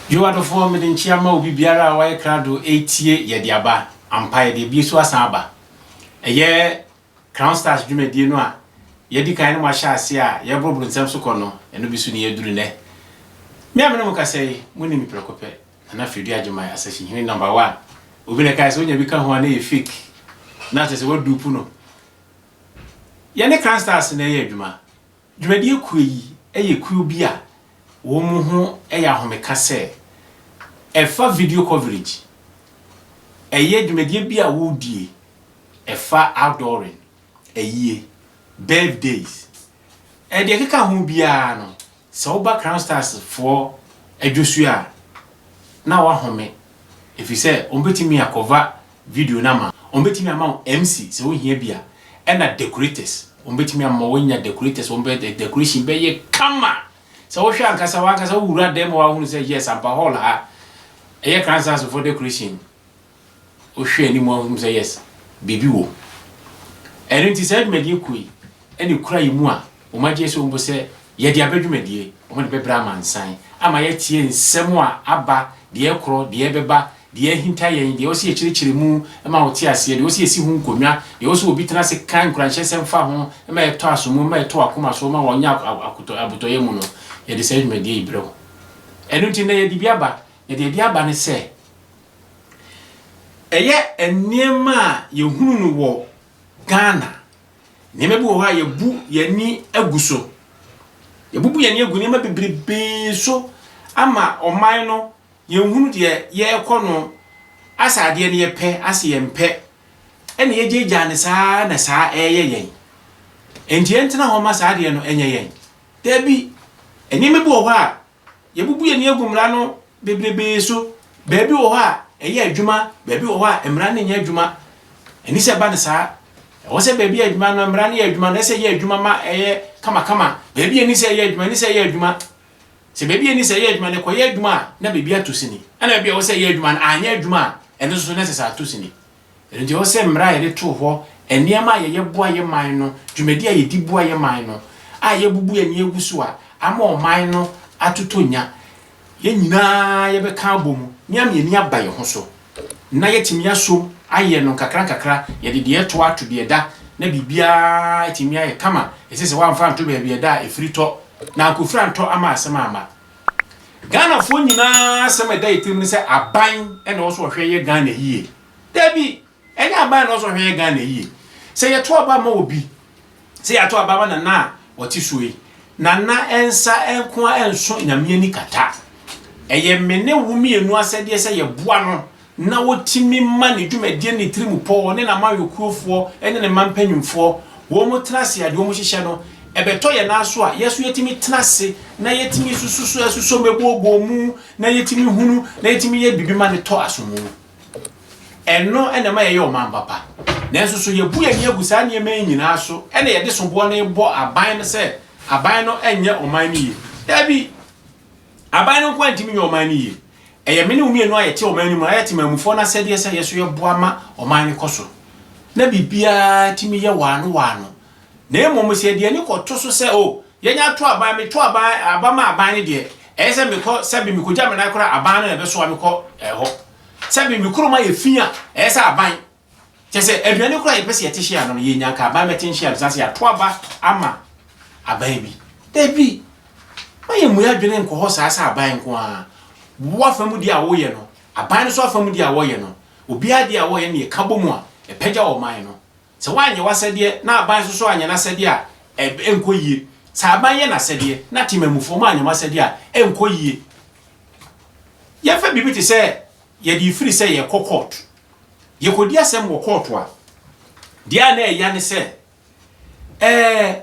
Yo adɔfoɔ mede nkyea ma obi biara a wayɛ krado retie yɛde aba ampa yɛde abie so asan aba ɛyɛ Crown Stars dwumadie no a yɛadi kan ne mo ahyɛ aseɛ a yɛreboroboro nsɛm so kɔ no ɛno bi so ne yɛaduru nnɛ me a mene mo kasa yi monim me prɛko pɛ Nana Freddie Agyeman Asahyehene number one obi na ɛkae sɛ onya bi ka ho a na ɛyɛ fake na kyerɛ sɛ waduupu no. Yɛne Kra Stars na ɛyɛ adwuma. Dwumadie kuo yi yɛ kuo bi a wɔn ho yɛ ahomeka sɛ ɛfa video coverage, ɛyɛ dwumadie bi a wɔdie ɛfa outdooring, ayie, birthdays, deɛ ɛkeka ho biara no Sɛ woba Crown Stars foɔ adwosuo a, na woahome ɛfiri sɛ wɔbɛtumi akɔva video no ama wo. Wɔbɛtumi ama wo MC sɛ wohia bi a, ɛna decorators, wɔbɛtumi ama woanya decorators, wɔbɛyɛ decoration bɛyɛ kama. Sɛ wohwɛ ankasa, w'ankasa wowura dan mu a woahunu sɛ yes ampa hall ha, ɛyɛ Crown Stars foɔ decoration Wohwɛ anim a wohu sɛ yes, biribi wom. Ɛno nti saa dwumadie kuo yi na ɛkura yɛn mu a wɔn agye asom bo sɛ yɛde aba dwumadie, wɔde bɛbrɛ amansan ama yɛatie nsɛm a aba, deɛ ɛkorɔ, deɛ ɛbɛba, deɛ ahinta yɛn, deɛ ɛwɔ sɛ yɛkyerɛkyerɛ mu ma wɔte aseɛ, deɛ ɛwɔ sɛ yɛsi ho nkonnwa, deɛ ɛwɔ sɛ obi tena ase ka nkuranhyɛsɛm fa ho ma ɛtɔ asom mu, ma ɛtɔ wɔn akoma so ma wɔnya akotɔ, abotɔyam no, yɛde saa dwumadie yi brɛ wo. Ɛno nti nnɛ yɛde bi aba, na deɛ yɛde aba ne sɛ. Ɛyɛ nneɛma a yɛhunu no wɔ Ghana. Nneɛma bi wɔ hɔ a yɛbu yɛn ani agu so. Yɛabubu yɛn ani agu nneɛma bebrebe so ama ɔman no, yɛnhunu deɛ yɛrekɔ no. Asɛ adeɛ no yɛpɛ, asɛ yɛmpɛ. Ɛna yɛgyaagyaa no saa na saa ɛreyɛ yɛn. Enti yɛntena hɔ ma saa adeɛ no ɛnyɛ yɛn. Dabi, nneɛma bi wɔ hɔ a Yɛabubu yɛn ani agu mmara no bebrebe so. Baabi wɔ hɔ a, ɛyɛ adwuma, baabi wɔ hɔ a, mmara no nyɛ adwuma. Ɛne sɛ ɛba no saa. Ɛwɔ sɛ baabi yɛ adwuma no, mmara no yɛ adwuma, na ɛsɛ sɛ ɛyɛ adwuma ma ɛyɛ kamakama. Baabi a ɛni sɛ ɛyɛ adwuma, ɛne sɛ ɛyɛ adwuma. Sɛ baabi a ɛni sɛ ɛyɛ adwuma no, ɛkɔyɛ adwuma a, na baabi ato sini. Ɛnna baabi a ɛwɔ sɛ ɛyɛ adwuma no anyɛ adwuma a, ɛno nso so na ɛsɛ sɛ ato sini. Ɛno nti, ɛwɔ sɛ mmara a yɛde too hɔ, nneɛma a yɛyɛ boa yɛn man no, dwumadi a yɛdi boa yɛn man no, a yɛabubu yɛn ani agu so a ama ɔman no atotɔ nya, yɛn nyinaa yɛbɛka abom na yɛama yɛn ani aba yɛn ho so na yɛatumi asom ayɛ no nkakrankakra, yɛde deɛ ɛtɔ ato deɛ ɛda na biribiara atumi ayɛ kama. Ɛsɛ sɛ wɔamfa anto baabi a ɛda a ɛfiri tɔ, na ankɔfiri antɔ ama asɛm amma. Ghanafoɔ nyinaa asɛm a ɛda yɛn tirim ne sɛ aban na ɛwɔ sɛ ɔhwɛ yɛ Ghana yie. Dabi, ɛnyɛ aban na ɛwɔ sɛ ɔhwɛ yɛ Ghana yie. Sɛ yɛto aba ma obi, sɛ yɛato aba ma Nana a ɔte so yi, Nana nsa nko ara nso Nyame ani kata. Ɛyɛ me ne wo mmienu asɛdeɛ sɛ yɛboa no na wɔtumi ma ne dwumadie no ne tirim pɔ, ɔne n'amannyɔkuofoɔ ne ne mma mpanimfoɔ, wɔn tena ase a, deɛ wɔhyehyɛ no, ɛbɛtɔ yɛn ara so a, yɛn nso yɛtumi tena ase na yɛtumi nsusu so, ɛsosɔ mu, ɛbɔ bɔ mu, na yɛtumi hunu, na yɛtumi yɛ biribi ma no tɔ asomu. Ɛno na ɛma yɛyɛ ɔman papa. Nanso so yɛbu yɛn ani agu saa nneɛma yi nyinaa so na yɛde soboɔ no rebɔ aban no sɛ aban no nyɛ ɔman no yie? Dabi! Aban no nko ara ntumi nyɛ ɔman no yie. Ɛyɛ me ne wo mmienu a yɛte ɔman no mu, na yɛyɛ temammufoɔ no asɛdeɛ sɛ yɛn nso yɛboa ma ɔman no kɔ so, na biribiara tumi yɛ waano waano. Na mmom sɛ yɛde ani kɔto so sɛ, O, yɛnyɛ ato aban, meto aban, aba ma aban no deɛ, ɛyɛ sɛ mekɔ, sɛbe mekɔgya me nan koraa a, aban no na ɛbɛsoa me kɔ hɔ. Sɛbe me kurom ayɛ fi a, ɛyɛ sɛ aban Kyerɛ sɛ, aduane koraa a yɛpɛ sɛ yɛte hyia no no, yɛnya anka aban bɛte nhyia no, san sɛ yɛato aba ama aban bi. Dabi, mma yɛmmu yɛn adwene nkɔ hɔ saa sɛ aban nko ara. Wo afa mu deɛ a woyɛ no, aban no nso afa mu deɛ a wɔyɛ no, obiara deɛ a wɔyɛ no na yɛka bɔ mu a, ɛpagya ɔman no. Sɛ woanyɛ w'asɛdeɛ na aban nso so anyɛ n'asɛdeɛ a, ɛb, ɛnkɔ yie. Sɛ aban yɛ n'asɛdeɛ na temammufoɔ mo anyɛ mo asɛdeɛ a, ɛnkɔ yie. Yɛmfa biribi te sɛ yɛde firi sɛ yɛrekɔ kɔɔto. Yɛkɔdi asɛm wɔ kɔɔto a, deɛ a na ɛya ne sɛ, ɛɛ,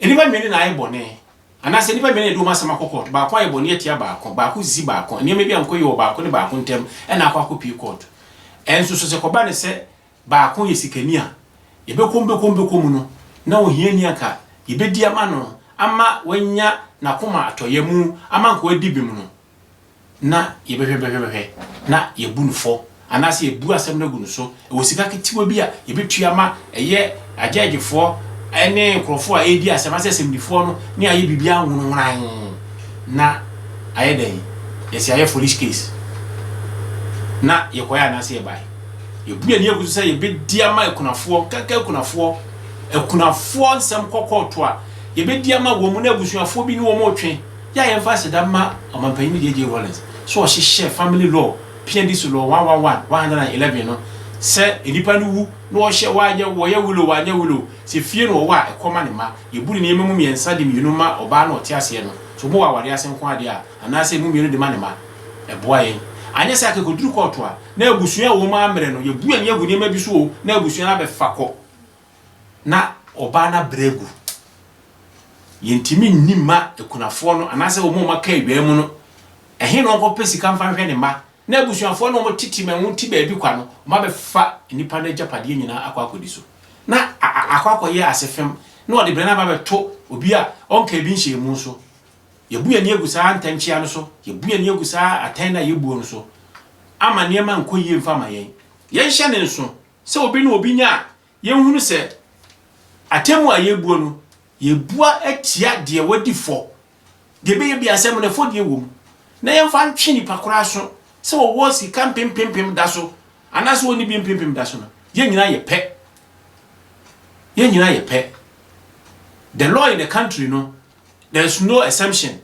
nnipa mmienu na ayɛ bɔne, anaasɛ nnipa mmienu na ɛde wɔn asɛm akɔ kɔɔto, baako ayɛ bɔne atia baako, baako resisi baako, nneɛma bi ankɔ yie wɔ baako ne baako ntam, ɛna akɔ akɔpue kɔɔto. Ɛnso so, sɛ ɛkɔba no sɛ baako yɛ sikani a, yɛbɛkɔ mu, bɛkɔ mu, bɛkɔ mu no, na ohiani anka yɛbɛdi ama no, ama wanya n'akoma atɔyam, ama anka wadi bem no, na yɛbɛhwɛbɛhwɛbɛhwɛ na yɛabu no fɔ anaasɛ yɛabu asɛm no agu no so. Ɛwɔ sika ketewa bi a yɛbɛtua ma ɛyɛ agyɛɛgyefoɔ ne nkurɔfoɔ a ɛredi asɛm asɛ asɛmdifoɔ no ne ayɛ biribiara nwonowonoan na ayɛ dɛn yɛsi ayɛ foolish case na yɛkɔɛ anaasɛ yɛbae. Yɛbu yɛn ani agu so sɛ yɛbɛdi ama akunafoɔ, nkanka akunafoɔ, akunafoɔ nsɛm kɔkɔɔtoa, yɛbɛdi ama wɔn na abusuafoɔ bi ne wɔn retwe. Yɛ a yɛmfa aseda mma Ɔmampanyin JJ Rawlings sɛ ɔhyehyɛɛ Family Law, Piandi so Law 111, 111 no, sɛ nnipa no wu na wɔhyɛ wɔanyɛ wɔyɛ will o, wɔanyɛ will o, sɛ fie na wɔwɔ a, ɛkɔ ma ne mma. Yebu ne nneɛma mu mmiɛnsa de mmienu ma ɔbaa no a ɔte aseɛ no, sɛ ɔbɔ wɔ aware ase nko ara deɛ a, anaasɛ ɛmu mmienu de ma ne mma. Ɛboa yɛn. Anyɛ saa a, anka ɛkɔduru kɔɔto a, na abusua a wɔn ara mmrɛ no, yɛbu ani agu nneɛma bi so o, na abusua no abɛfa kɔ. na ɔbaa no abrɛ agu. Yɛntumi nni mma akunafoɔ no anaasɛ wɔn a wɔaka awia mu no, ɛhe na wɔnkɔpɛ sika mfa nhwɛ ne mma? Na abusuafoɔ no a wɔtete ma ɛho te baabi kwa no, wɔabɛfa nnipa no agyapadeɛ nyinaa akɔ akɔdi so, na akɔ akɔyɛ ase fam, na wɔde berɛ no aba abɛto obi a ɔnkaa bi nhyɛɛ mu so. Yɛabu yɛn ani agu saa ntɛnkyea no so, yɛabu yɛn ani agu saa atɛn no a yɛbuo no so, ama nneɛma nkɔ yie mfa mma yɛn. Yɛnhyɛ no nso, sɛ obi ne obi nya a, yɛnhunu sɛ atemmu a yɛbuo no, yɛbua atia deɛ wadi fɔ. Deɛ ɛbɛyɛ bi asɛm no ɛfɔdie wɔ mu. Na yɛmfa ntwe nipa koro aso sɛ ɔwɔ sika mpempempem da so anaasɛ ɔnni bi mpempem da so no, yɛn nyinaa yɛ pɛ. Yɛn nyinaa yɛ pɛ. The law in the country no, there is no exemption.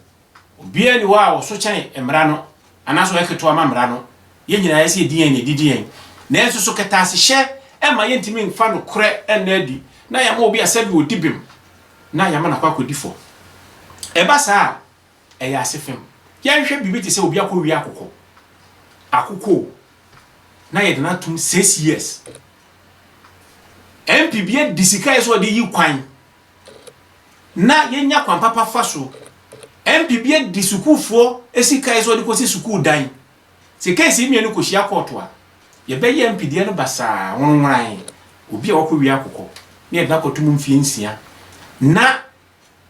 Obiara nni hɔ a ɔso kyɛn Mmara no, anaasɛ ɔyɛ ketewa ma Mmara no. Yɛn nyinaa yɛsɛ yedi yɛn nea edidi yɛn. Nanso, so kɛtɛasehyɛ mma yentumi mfa nokorɛ nna adi, na yɛama obi asɛ deɛ ɔdi bem, na yɛama no akɔ akɔdi fɔ? Ɛba saa a, ɛyɛ asefem. Yɛnhwɛ biribi te sɛ obi akɔwia akokɔ, akokɔ o, na yɛde no atom six years. Mp bi adi sika a ɛsɛ sɛ ɔde yi kwan na yɛnya kwan papa fa so. MP bi de sukuufoɔ sika yɛ sɛ ɔde kɔsi sukuu dan. Sɛ keesi mmienu kɔhyia kɔɔto a, yɛbɛyɛ MP deɛ no basaa, wonworan. Obi a wakɔwia akokɔ na yɛde no akɔto mu mfeɛ nsia na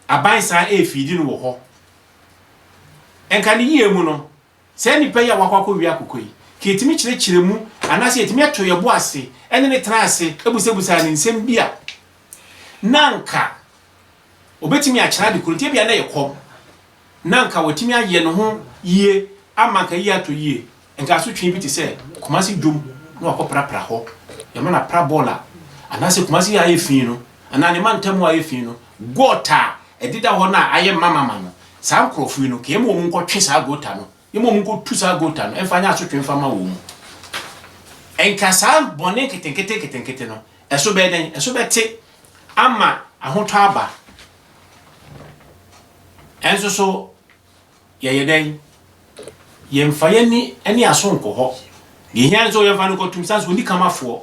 aban san ɛrefiidi no wɔ hɔ. Nka ne yie mu no, Saa nnipa yi a wɔakɔ akɔwe akokɔ yi, nka yetumi kyerɛkyerɛ mu anaasɛ yetumi to yɛn bo ase ne no tena ase bisabisaa no nsɛm bi a, na anka obetumi akyerɛ ade koro nti, ebia na ɛyɛ kɔm, na anka watumi ayɛ ne ho yie ama anka eyi atɔ yie. Anka asotwe bi te sɛ Kumasi dwom na wakɔprapra hɔ, yɛma no apra bɔɔl a, anaasɛ Kumasi a ayɛ fi no, anaa ne mantam a ayɛ fi no, gɔɔta a ɛdeda hɔ no a ayɛ mamama no, Saa nkurɔfo yi no, ka yɛma wɔn nkɔtwe saa gota no, yɛma wɔn nkɔtu saa gota no mfa nyɛ asotwe mfa ma wɔn mu. Nka saa bɔne nketenkete nketenkete no, ɛso bɛyɛ dɛn? Ɛso bɛte ama ahotɔ aba. Ɛnso so, yɛyɛ dɛn? Yɛmfa yɛn ani ne yɛn aso nkɔ hɔ. Deɛ ɛhia ne sɛ yɛmfa no nkɔto mu, sane sɛ ɔnni kamafoɔ.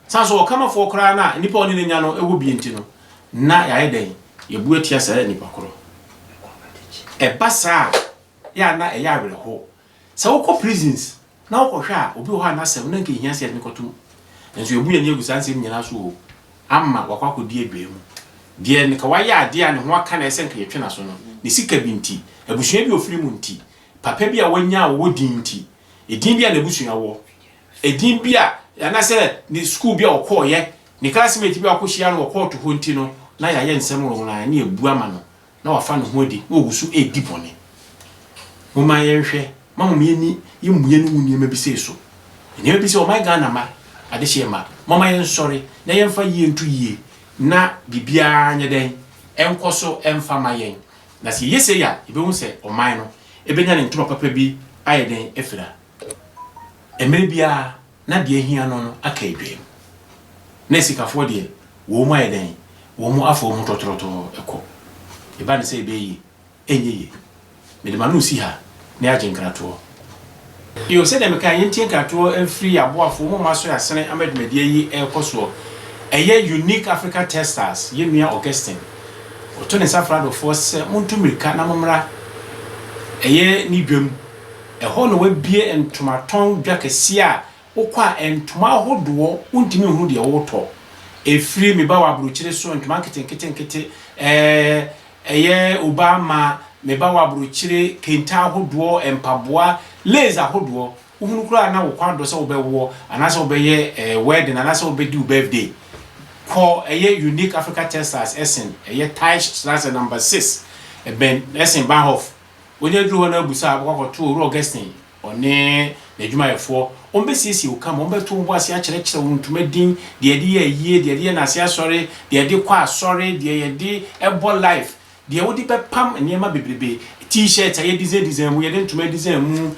San so Ɔkamafoɔ koraa no a nnipa a ɔne no nya no wɔ bi nti no, na yɛayɛ dɛn? Yɛabu atia saa nnipa korɔ. Ɛba saa a, yɛ a na ɛyɛ awerɛhoɔ. Sɛ wokɔ prisons na wokɔhwɛ a, obi wɔ hɔ a n'asɛm no anka ɛhia sɛ yɛde no kɔto mu. Nanso yɛabu yɛn ani agu saa nsɛm nyinaa so o, ama wakɔ akɔdi adwaa mu. Deɛ nka wayɛ adeɛ a ne ho aka no a ɛsɛ sɛ nka yɛtwe n'aso no, ne sika bi nti, abusua bi a ɔfiri mu nti, papa bi a wanya a ɔwɔ din nti, edin bi a n'abusua wɔ, Edin bi a anaasɛ ne sukuu bi a ɔkɔeɛ, ne classmate bi a ɔkɔhyia no wɔ kɔɔto hɔ nti no, na yɛayɛ nsɛm nworonworaa ne abu ama no, na wafa ne ho adi, na ɔgu so redi bɔne. Momma yɛnhwɛ, momma mo ani mmue no ngu nneɛma bi sei so. Nneɛma bi sɛ, ɔman Ghana mma, adehyeɛ mma, momma yɛnsɔre na yɛmfa yie nto yie na biribiara nyɛ dɛn, ɛnkɔ so mfa mma yɛn. Na sɛ yɛyɛ sei a, yɛbɛhu sɛ ɔman no bɛnya ne ntoma papa bi ayɛ dɛn afira. Mmerɛ biara na deɛ ahia no no aka adwaam. Na asikafoɔ deɛ, wɔn mu ayɛ dɛn? Wɔn mu afa wɔn ho tɔtrɔtɔɔ kɔ. Ɛba no sɛ ɛbɛyɛ yie? Ɛnyɛ yie. Mede m'ano resi ha na yɛagye nkratoɔ. Io, sɛdeɛ mekaeɛ, yɛntie nkratoɔ mfiri yɛn aboafoɔ mu mma so asene ama dwumadie yi rekɔ soɔ. Ɛyɛ Unique Africa Textiles, yɛn nua Augustine. Ɔto ne nsa frɛ adɔfoɔ sɛ montu mmirika na mommra ɛyɛ ne dwam. Ɛhɔ na wɔabue ntomatɔn dwa kɛseɛ a wokɔ a ntoma ahodoɔ wontumi nhunu deɛ woretɔ. Ɛfiri me ba wɔ aburokyire so, ntoma nketenketenkete, ɛɛɛ, ɛyɛ obaa mmaa, me ba wɔ aburokyire, kente ahodoɔ, mpaboa, lace ahodoɔ, wohunu koraa a na wo kɔn adɔ sɛ wobɛwoɔ anaasɛ wobɛyɛ ɛɛɛ wedding anaasɛ wobɛdi wo birthday. Kɔ ɛyɛ Unique Africa Textiles ɛsen ɛyɛ Teichstrasse number six, ɛbɛn ɛsen Bahnhof Wonya duru hɔ no abisa a, wɔkɔ akɔto Owura Augustine, ɔne n'adwumayɛfoɔ. Wɔbɛsiesie wo kama, wɔbɛto wo bo ase akyerɛkyerɛ wo ntoma din, deɛ yɛde yɛ ayie, deɛ yɛde yɛ nnase asɔre, deɛ yɛde kɔ asɔre, deɛ yɛde bɔ life, deɛ wode bɛpam nneɛma bebrebe, T-shirts a yɛdesign design mu, yɛde ntoma design mu,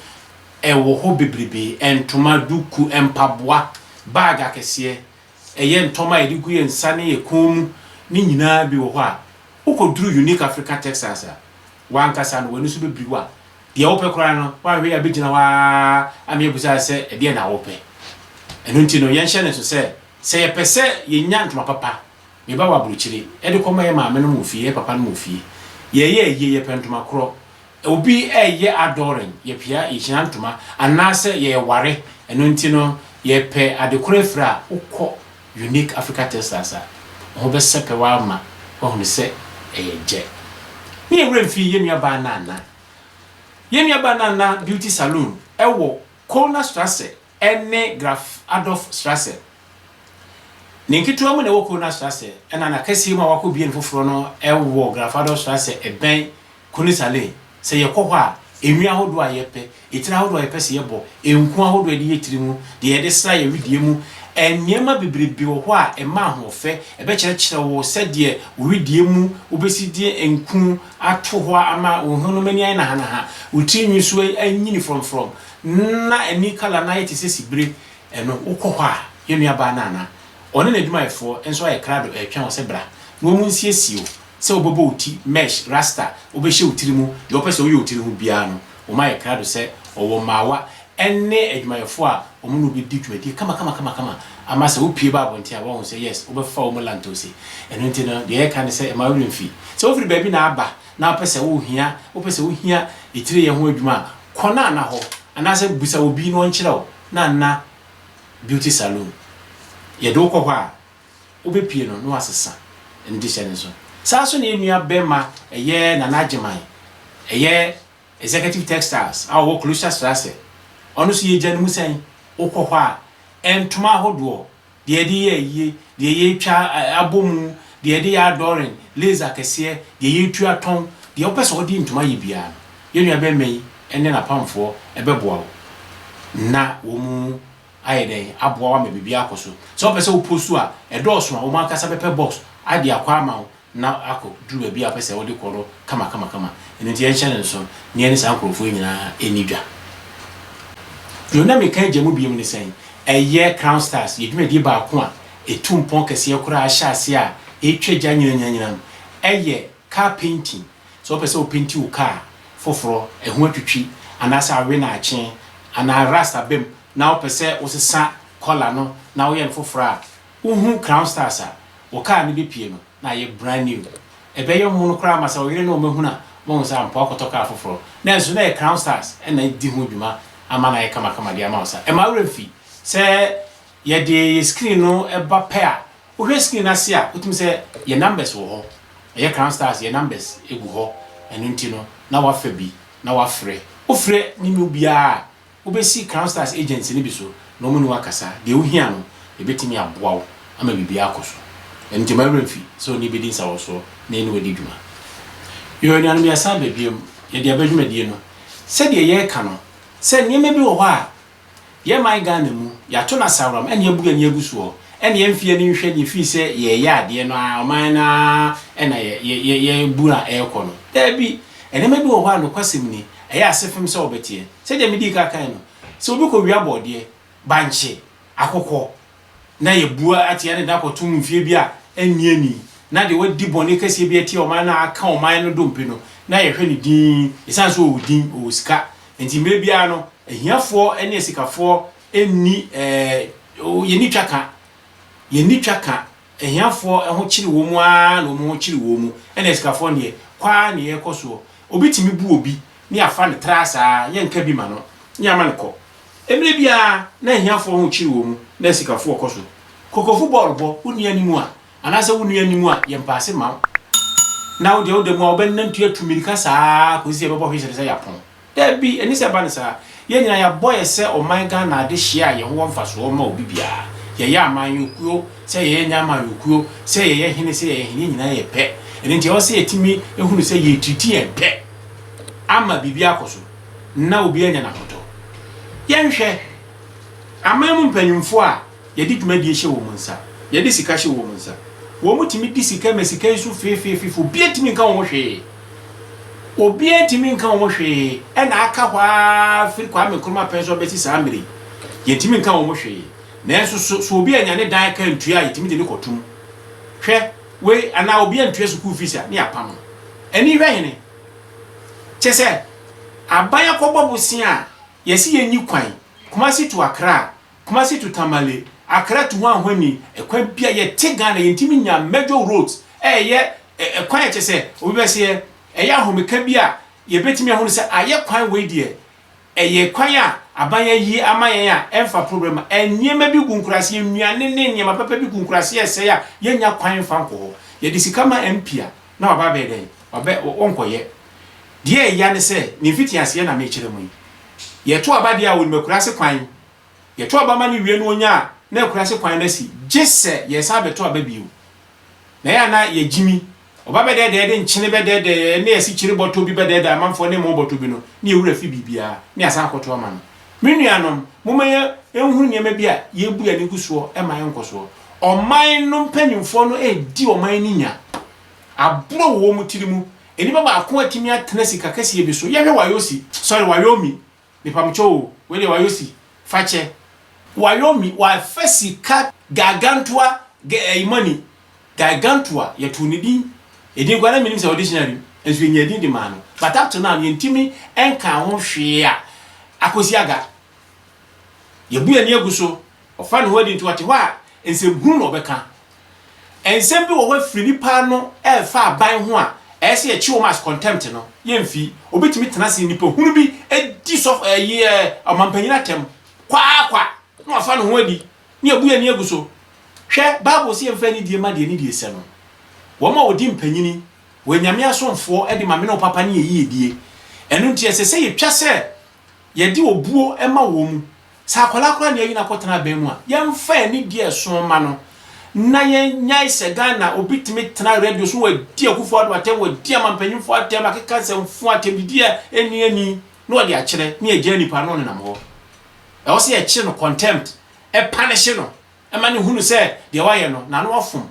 ɛwɔ hɔ bebrebe, ntoma, duku, mpaboa, bag akɛseɛ, ɛyɛ ntɔma a yɛde gu yɛn nsa ne yɛn kɔn mu, ne nyinaa bi wɔ hɔ a, wokɔduru Unique Africa Textiles a, W'ankasa no, w'ani so bɛbiri wo a, deɛ wopɛ koraa no, woanhwɛ yie a bɛgyina hɔ ara ama yɛabisa wo sɛ, Ɛdeɛn na wopɛ? Ɛno nti no, yɛnhyɛ no nso sɛ, sɛ yɛpɛ sɛ yɛnya ntoma papa, meba wɔ aburokyire, de kɔma yɛn maamenom wɔ fie, yɛn papanom wɔ fie. Yɛreyɛ ayie, yɛpɛ ntoma korɔ. Obi reyɛ adɔɔren, yɛpia, yɛhyira ntoma, anaasɛ yɛreware. Ɛno nti no, yɛpɛ ade korɔ afira a, wokɔ. Unique Africa Textiles a, wo ho bɛsɛpɛw ara ma woahunu sɛ ɛyɛ gyɛ. Ne yɛn werɛ mfii yɛn nuabaa Nana. Yɛn nuabaa Nana Beauty Saloon wɔ Kölner Strasse ne Graf Adolf Strasse. Ne nketewa mu na ɛwɔ Kölner Strasse, ɛnna n'akɛseɛ mu a wɔakɔbue no foforɔ no wɔ Graf Adolf Strasse bɛn Kone Sale, Sɛ yɛkɔ hɔ a, nnwin ahodoɔ a yɛpɛ, etire ahodoɔ a yɛpɛ sɛ yɛbɔ, nku ahodoɔ a yɛde yɛ tiri ho, deɛ yɛde sra yɛn wedeɛ mu, nneɛma bebrebe wɔ hɔ a ɛma ahoɔfɛ. Ɛbɛkyerɛkyerɛ wo sɛdeɛ wo wedeɛ mu wobɛsi de nku ato hɔ ama wo ho no mu ani ayɛ nahanaha, wo tiri nwi nso anyini frɔmfrɔm, na ani kala no ayɛ te sɛ sibire. Ɛno, wokɔ hɔ a, yɛn nuabaa Nana, ɔne n'adwumayɛfoɔ nso ayɛ krado retwɛn wo sɛ bra na wɔnsiesie wo sɛ wobɛbɔ wo ti mesh, rasta, wobɛhyɛ wo tiri mu, deɛ wopɛ sɛ woyɛ wo tiri ho biara no, wɔma yɛ krado sɛ wɔwɔ mmaawa ne adwumayɛfoɔ a wɔne wo bɛdi dwumadie kamakamakama ama sɛ wopue ba abɔnten a, wɔahu sɛ yes, wobɛfa wɔn lantose. Ɛno nti no, deɛ yɛka ne sɛ mma wo werɛ mfi. Sɛ wofiri baabi na aba na wopɛ sɛ wohia, wopɛ sɛ wohia atireyɛ ho adwuma a, kɔ Nana hɔ anaasɛ bisa obi na ɔnkyerɛ wo Nana Beauty Saloon. Yɛde wo kɔ hɔ a, Wobepue no na wasesa ne dehyɛ no nso. Saa ara nso na yɛn nua barima ɛyɛ Nana Agyeman, ɛyɛ Executive Textiles a ɔwɔ Klosterstrasse, ɔno nso yɛgya no mu sɛn? Wokɔ hɔ a, ntoma ahodoɔ, deɛ yɛde yɛ ayie, deɛ yɛtwa abɔ mu, deɛ yɛde yɛ adorn, lace akɛseɛ, deɛ yɛtu atɔn, deɛ wopɛ sɛ wode ntoma yɛ biara no, yɛn nua barima yi ne n'apamfoɔ bɛboa wo na wɔn. ayɛ dɛn aboa wo ama biribi akɔ so. Sɛ wopɛ sɛ wopɔ su a ɛdɔɔso a, wo ankasa bɛpɛ box de akɔ ama wo na akɔduru baabi a wopɛ sɛ wode kɔ no kamakamakama. Ɛno nti yɛnhyɛ no nsow na yɛne saa nkurɔfoɔ yi nyinaa nni dwa. Deɛ na meka agya mu bio ne sɛn? Ɛyɛ Crown Stars, yɛn dwumadie baako a ɛtu mpɔn kɛseɛ koraa hyɛaseɛ a ɛtwa gya nyinanyinanyina no. Ɛyɛ Car painting, Sɛ wopɛ sɛ wopenti wo kaa foforɔ, ɛho atwitwi, anaasɛ awe na akye, anaa rust aba mu na wopɛ sɛ wosesa kɔla no na woyɛ no foforɔ a, wohu Crown Stars a, wo kaa no bɛpue no na ayɛ brand new. Ɛbɛyɛ mono koraa ma sɛ wo yere ne wo mma hunu a, wɔahu sɛ ampa woakɔtɔ kaa foforɔ. Nanso na ɛyɛ Crown Stars na adi ho dwuma ama no ayɛ kamakama de ama wo. Sa ɛmma wo werɛ mfi sɛ yɛde yɛn screen no ba pɛ a, Wohwɛ screen no ase a, wotumi sɛ yɛn numbers wɔ hɔ. Ɛyɛ Crown Stars yɛn numbers gu hɔ. Ɛno nti no, na woafa bi na woafrɛ. Wofrɛ ne mu biara a, wobɛsi Crown Stars agents no bi so na wɔne wo akasa. Deɛ wohia no, yɛbɛtumi aboa wo ama biribiara akɔ so. Ɛno nti, mma wo werɛ mfi sɛ wo ne yɛn bɛdi nsawɔsoɔ na yɛne wo adi dwuma. Yoo anuanom, yɛasan aba biom. Yɛde aba dwumadie no. Sɛdeɛ yɛreka no, sɛ nneɛma bi wɔ hɔ a, Yɛ man Ghana mu, yɛato no asaworam ɛne yɛabu ani agu soɔ ɛne yɛmfie ani nhwɛ nie firi sɛ yɛɛyɛ adeɛ no aa ɔman no aa ɛna yɛɛbu a ɛɛkɔ no. Daabi, nneɛma bi wɔ hɔ a nokwasɛm ni, ɛyɛ asefem sɛ wɔbɛteɛ. Sɛdeɛ medii ka kae no, sɛ obi kɔwia bɔɔdeɛ, bankye, akokɔ, na yɛabua atia ne da kɔtom mfeɛ bi a ɛnnye ani, na deɛ wadi bɔne kɛseɛ bi atia ɔman no a aka ɔman no dompe no, na yɛhwɛ no dinn, ɛsiane sɛ ɔwɔ din, ɔwɔ sika. Enti mmerɛ biara no, ahiafoɔ ne asikafoɔ nni, ɛɛ, yɛnni twa ka, yɛnni twa ka, ahiafoɔ ho kyere wɔn ara na wɔn ho kyere wɔn, ɛna asikafoɔ deɛ, kɔ ara na yɛkɔ soɔ. Obi tumi bu obi, na yɛafa no traa saa, yɛnka bi ma no, na yɛama no kɔ. Mmere bi ara, na ahiafoɔ ho kyere wɔn mu, na asikafoɔ kɔ so. Kokofo bɔɔl bɔ, wo nua anim a, anaasɛ wo nua anim a, yɛ mpaase mma wo. Na wo deɛ, woda mu a, wobɛnante atu mmirika saa ara kɔsi sɛ ɛbɛbɔ whistle sɛ yɛapɔn. Dabi, ɛnni sɛ ɛba no saa. Yɛn nyinaa, yɛabɔ yɛ sɛ ɔman Ghana adehyeɛ a yɛn ho wɔ mfasoɔ mma obi biara. Yɛyɛ amanyɔkuo, sɛ yɛyɛ nyɛ amanyɔkuo, sɛ yɛyɛ hene, sɛ yɛyɛ hene, yɛn nyinaa yɛ pɛ. Ɛno nti, ɛwɔ sɛ yɛtumi hunu sɛ yɛretiriti yɛn pɛ ama biribiara akɔ so. na obi anya n'ahotɔ. Yɛnhwɛ aman mu mpanyimfo a yɛde dwumadie hyɛ wɔn nsa, yɛde sika hyɛ wɔn nsa. Wɔtumi di sika ma sika yi so feefeefefe, obiara ntumi nka wɔn ho hwee. Obiara ntumi nka wɔn ho hwee, ɛna aka hɔ ara firi Kwame Nkrumah pɛn so abɛsi saa mmerɛ yi, yɛntumi nka wɔn ho hwee. Nanso so, so obi anya ne dan aka antua a yɛtumi de no kɔto mu? Hwɛ wei, anaa obi antua sukuu fees a, na yɛapam no. Ani hwɛ hene? Kyesɛ aban akɔbɔ bosea a yɛse yɛnyi kwan, Kumasi to Accra, Kumasi to Tamale, Accra to Hwanhwani, kwan bia yɛte Ghana yɛntimi nya major roads a ɛyɛ kwan a kyesɛ obi bɛseɛ ɛyɛ ahomeka bi a yɛbɛtimi ahunu sɛ ayɛ kwan wei deɛ Ɛyɛ kwan a aban ayi ama yɛn a ɛmfa problem a nneɛma bi gu nkuraase, nnuane ne nneɛma papa bi gu nkuraase a ɛsɛe a yennya kwan mfa nkɔ hɔ. Yɛde sika ma MP a, na waba abɛyɛ dɛn? Wabɛ ɔnkɔyɛ. Deɛ ɛya ne sɛ, ne mfitiaseɛ na mekyerɛ mo yi. Yɛto aba deɛ a onim akuraase kwan. Yɛto aba ma no wie na onya a, na akuraase kwan no asi. Gye sɛ yɛsan bɛto aba bio. Na ɛyɛ a na yɛgyimi. Ɔba bɛdɛɛdɛɛ de nkyene bɛdɛɛdɛɛ ne asikyire bɔtɔ bi bɛdɛɛdɛɛ amanfoɔ ne mmo bɔtɔ bi no ne yɛn wura fi biribiara ne asan akɔto ama no. Me nuanom, momma yɛ nhunu nneɛma bi a yɛrebu yɛn ani gu soɔ mma yɛn nkɔsoɔ. Ɔman no mpanimfoɔ no redi ɔman no nya. Aborɔ wɔ wɔn tiri mu. Nnipa baako atumi atena sika kɛseɛ bi so. Yɛhwɛ Wayosi, sorry, Wayomi, Mepamkyɛw o, wei deɛ wayɔ si, fa kyɛ. Wayɔ mi, wafɛ sika Gargantua ga ɛyi money, Gargantua, yɛtoo ne din, edin koraa na mennim sɛ wɔ dictionary mu, nso yɛnyaa edin de maa no, but up to now no yɛntumi nkaa ho hwee a akɔsi aga. Yɛabu yɛn ani agu so, ɔfa ne ho adi nti ɔte hɔ a nsɛmhunu na ɔbɛka, Nsɛm bi wɔ hɔ a firi nnipa ano a ɛfa aban ho a ɛyɛ sɛ yɛkye wɔn as contempt no, yɛmfi. Obi tumi tena ase nnipa hunu bi di sɔfo ɛyi ɛ ɔmampanyin atɛm kwaa kwa na wafa ne ho adi ne yɛbu yɛn ani agu so. Hwɛ, Bible se yɛmfa anidie ma deɛ ne die sɛ no. Wɔn a wɔdi mpanyini, wɔyɛ Nyame asomfoɔ de ma me ne wo papa ne yɛ yiedie. Ɛno nti ɛsɛ sɛ yɛtwa sɛ Yɛde obuo ma wɔn mu. Sɛ akwadaa koraa na yɛayi no akɔtena aban mu a, yɛmfa ani di ɛso mma no, na yɛnnyae sɛ Ghana obi tumi tena radio so, wadi Akufo-Addo atɛm, wadi amampanyimfoɔ atɛm, akeka nsɛmfua, atɛmdidi a ɛnni ani, na wɔde akyerɛ, na yɛagyaa nipa no na ɔnenam hɔ. Ɛwɔ sɛ yɛkyere no, contempt, panishe no ma no hunu sɛ deɛ wayɛ no, n'ano afom,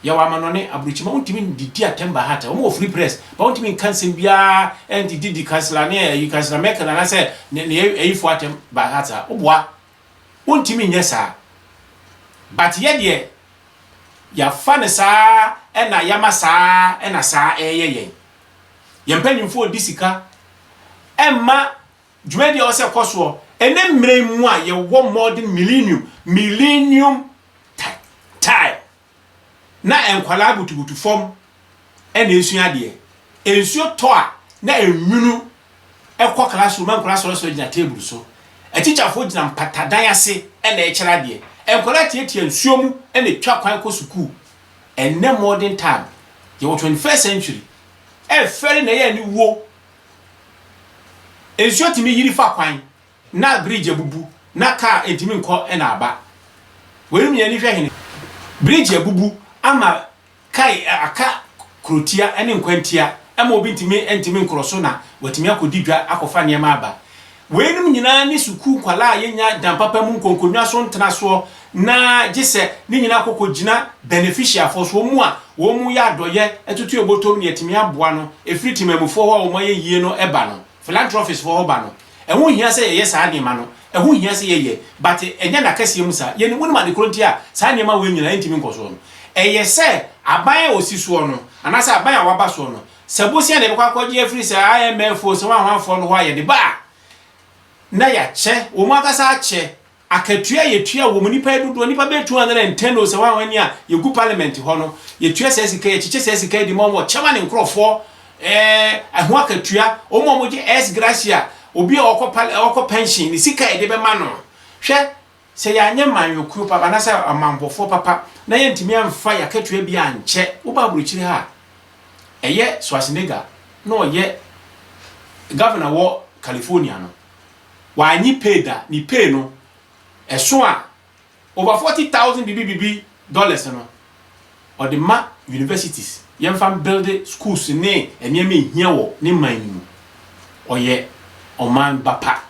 Yɛwɔ amanɔne, aburokyima wontumi ndidi atɛm bahata, wɔn wɔ free press, ba wontumi nka nsɛm biara ɛndi didi kansila ne ɛyi kansila mɛkɛn anasɛ ne ne ɛyifo atɛm bahata, woboa, wontumi nyɛ saa. But yɛ deɛ, yafa ne saa ɛna yama saa ɛna saa ɛyɛ yɛn. Yɛn mpanyinfoɔ di sika ɛma Dwumadi a ɔsɛ kɔ soɔ ɛnɛ mmerɛ yi mu a yɛwɔ modern millennium, millennium time, na nkwadaa butubutu fam na ɛresua adeɛ. Nsuo tɔ a na nwunu kɔ classroom ma nkwadaa sɔresɔre gyina table so. Atikyafoɔ gyina mpatadan ase na ɛrekyerɛ adeɛ. Nkwadaa tiatia nsuo mu na ɛtwa kwan kɔ sukuu. Ɛnɛ modern time, yɛwɔ 21st century, ɛrefɛre na ɛyɛ aniwuo. Nsuo tumi yiri fa kwan na bridge abubu na car ntumi nkɔ na aba. Wei nom yɛn ani hwɛ hene? Bridge abubu ama kae aka kurotia ne nkwantia ɛma obi ntumi ntumi nkorɔ so na watumi akɔdi dwa akɔfa nneɛma aba. Weinom nyinaa ne sukuu nkwadaa a yɛnya dan papa mu nkonkonwa so ntena soɔ na gye sɛ ne nyinaa kɔkɔ gyina beneficiafoɔ so, wɔn a wɔn yɛ adɔyɛ toto yɛ bɔtɔ mu na yɛtumi aboa no, ɛfiri temanmufoɔ hɔ a wɔn ayɛ yie no ba no, philanthropist foɔ hɔ ba no. Ɛho nhia sɛ yɛyɛ saa nneɛma no, ɛho hia sɛ yɛyɛ but ɛnyɛ n'akɛseɛ mu saa. Yɛnim, wonim ade korɔ nti a saa nneɛma wei nyinaa ɛntumi nkɔ soɔ no? Ɛyɛ sɛ aban a ɔsi soɔ no anaasɛ aban a waba soɔ no, sɛ bosea na yɛbɛkɔ akɔgye afiri saa IMF o, sɛ wanhwanfoɔ no hɔ a, yɛde ba a, na yɛakyɛ, wɔn ankasa akyɛ. Akatua a yɛtua wɔ mu, nnipa yi dodoɔ, nnipa bɛyɛ 210 o, sɛ wanhwan ni a, yɛgu parliament hɔ no, yɛtua saa sika yi, yɛkyekyɛ saa sika yi de ma wɔn, wɔkyɛ ma ne nkorɔfoɔ, ɛɛ, ɛho akatua, wɔn a wɔgye ex gratia, obi a ɔkɔ pal, ɔkɔ pension, ne sika a yɛde bɛma no. Hwɛ, Sɛ yɛanyɛ manyɔkuo papa anaasɛ ɔmammɔfoɔ papa na yɛantumi amfa yɛn akatua bi ankyɛ, woba aburokyire ha a, ɛyɛ Schwarzenegger na ɔyɛ Governor wɔ California no, wannye pay da, ne pay no, ɛso a, over forty thousand bibibibi dollars no, Ɔde ma universities, yɛmfa mbuilde schools ne nneɛma a ɛhia wɔ ne man no mu. Ɔyɛ ɔman ba pa.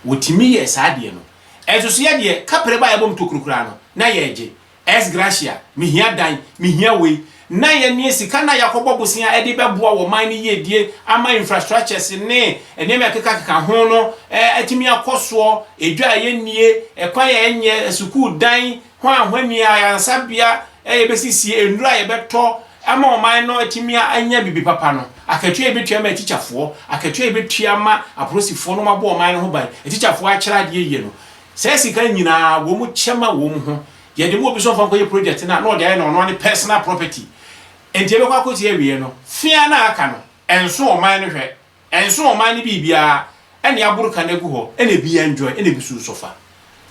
Wɔtumi yɛɛ saa deɛ no. Ɛnso so yɛdeɛ, kapre ba a yɛbɔ mu tokuro koraa no, na yɛregye. Ex gratia, mehia dan, mehia wei. Na yɛne sika no a yɛakɔbɔ bosea de bɛboa wɔ man no yiedie ama infrastructures ne nneɛma a ɛkekakeka ho no atumi akɔ soɔ, edwa a yɛnnie, ɛkwan a yɛnyɛ, asukuu dan, hwan hwanni ayaresabea a yɛbɛsisi, nnuro a yɛbɛtɔ ama ɔman no atumi anya biribi papa no, akatua a yɛbɛtua ama atikyafoɔ, akatua a yɛbɛtua ama apolisifoɔ na wɔabɔ ɔman no ho ban, atikyafoɔ akyerɛ adeɛ yie no, saa sika no nyina ara wɔkyɛ ma wɔn ho. Yɛde ma obi sɛ ɔmfa nkɔyɛ project no a, na ɔde ayɛ no ɔno ara ne personal property. Enti yɛbɛkɔ akɔsi awieɛ no, fe ara no a aka no, ɛnso ɔman no hwɛ. Ɛnso ɔman no biribiara ɛna yɛaboro ka no agu hɔ ɛna ebi enjoy ɛna ebi so resɔfa.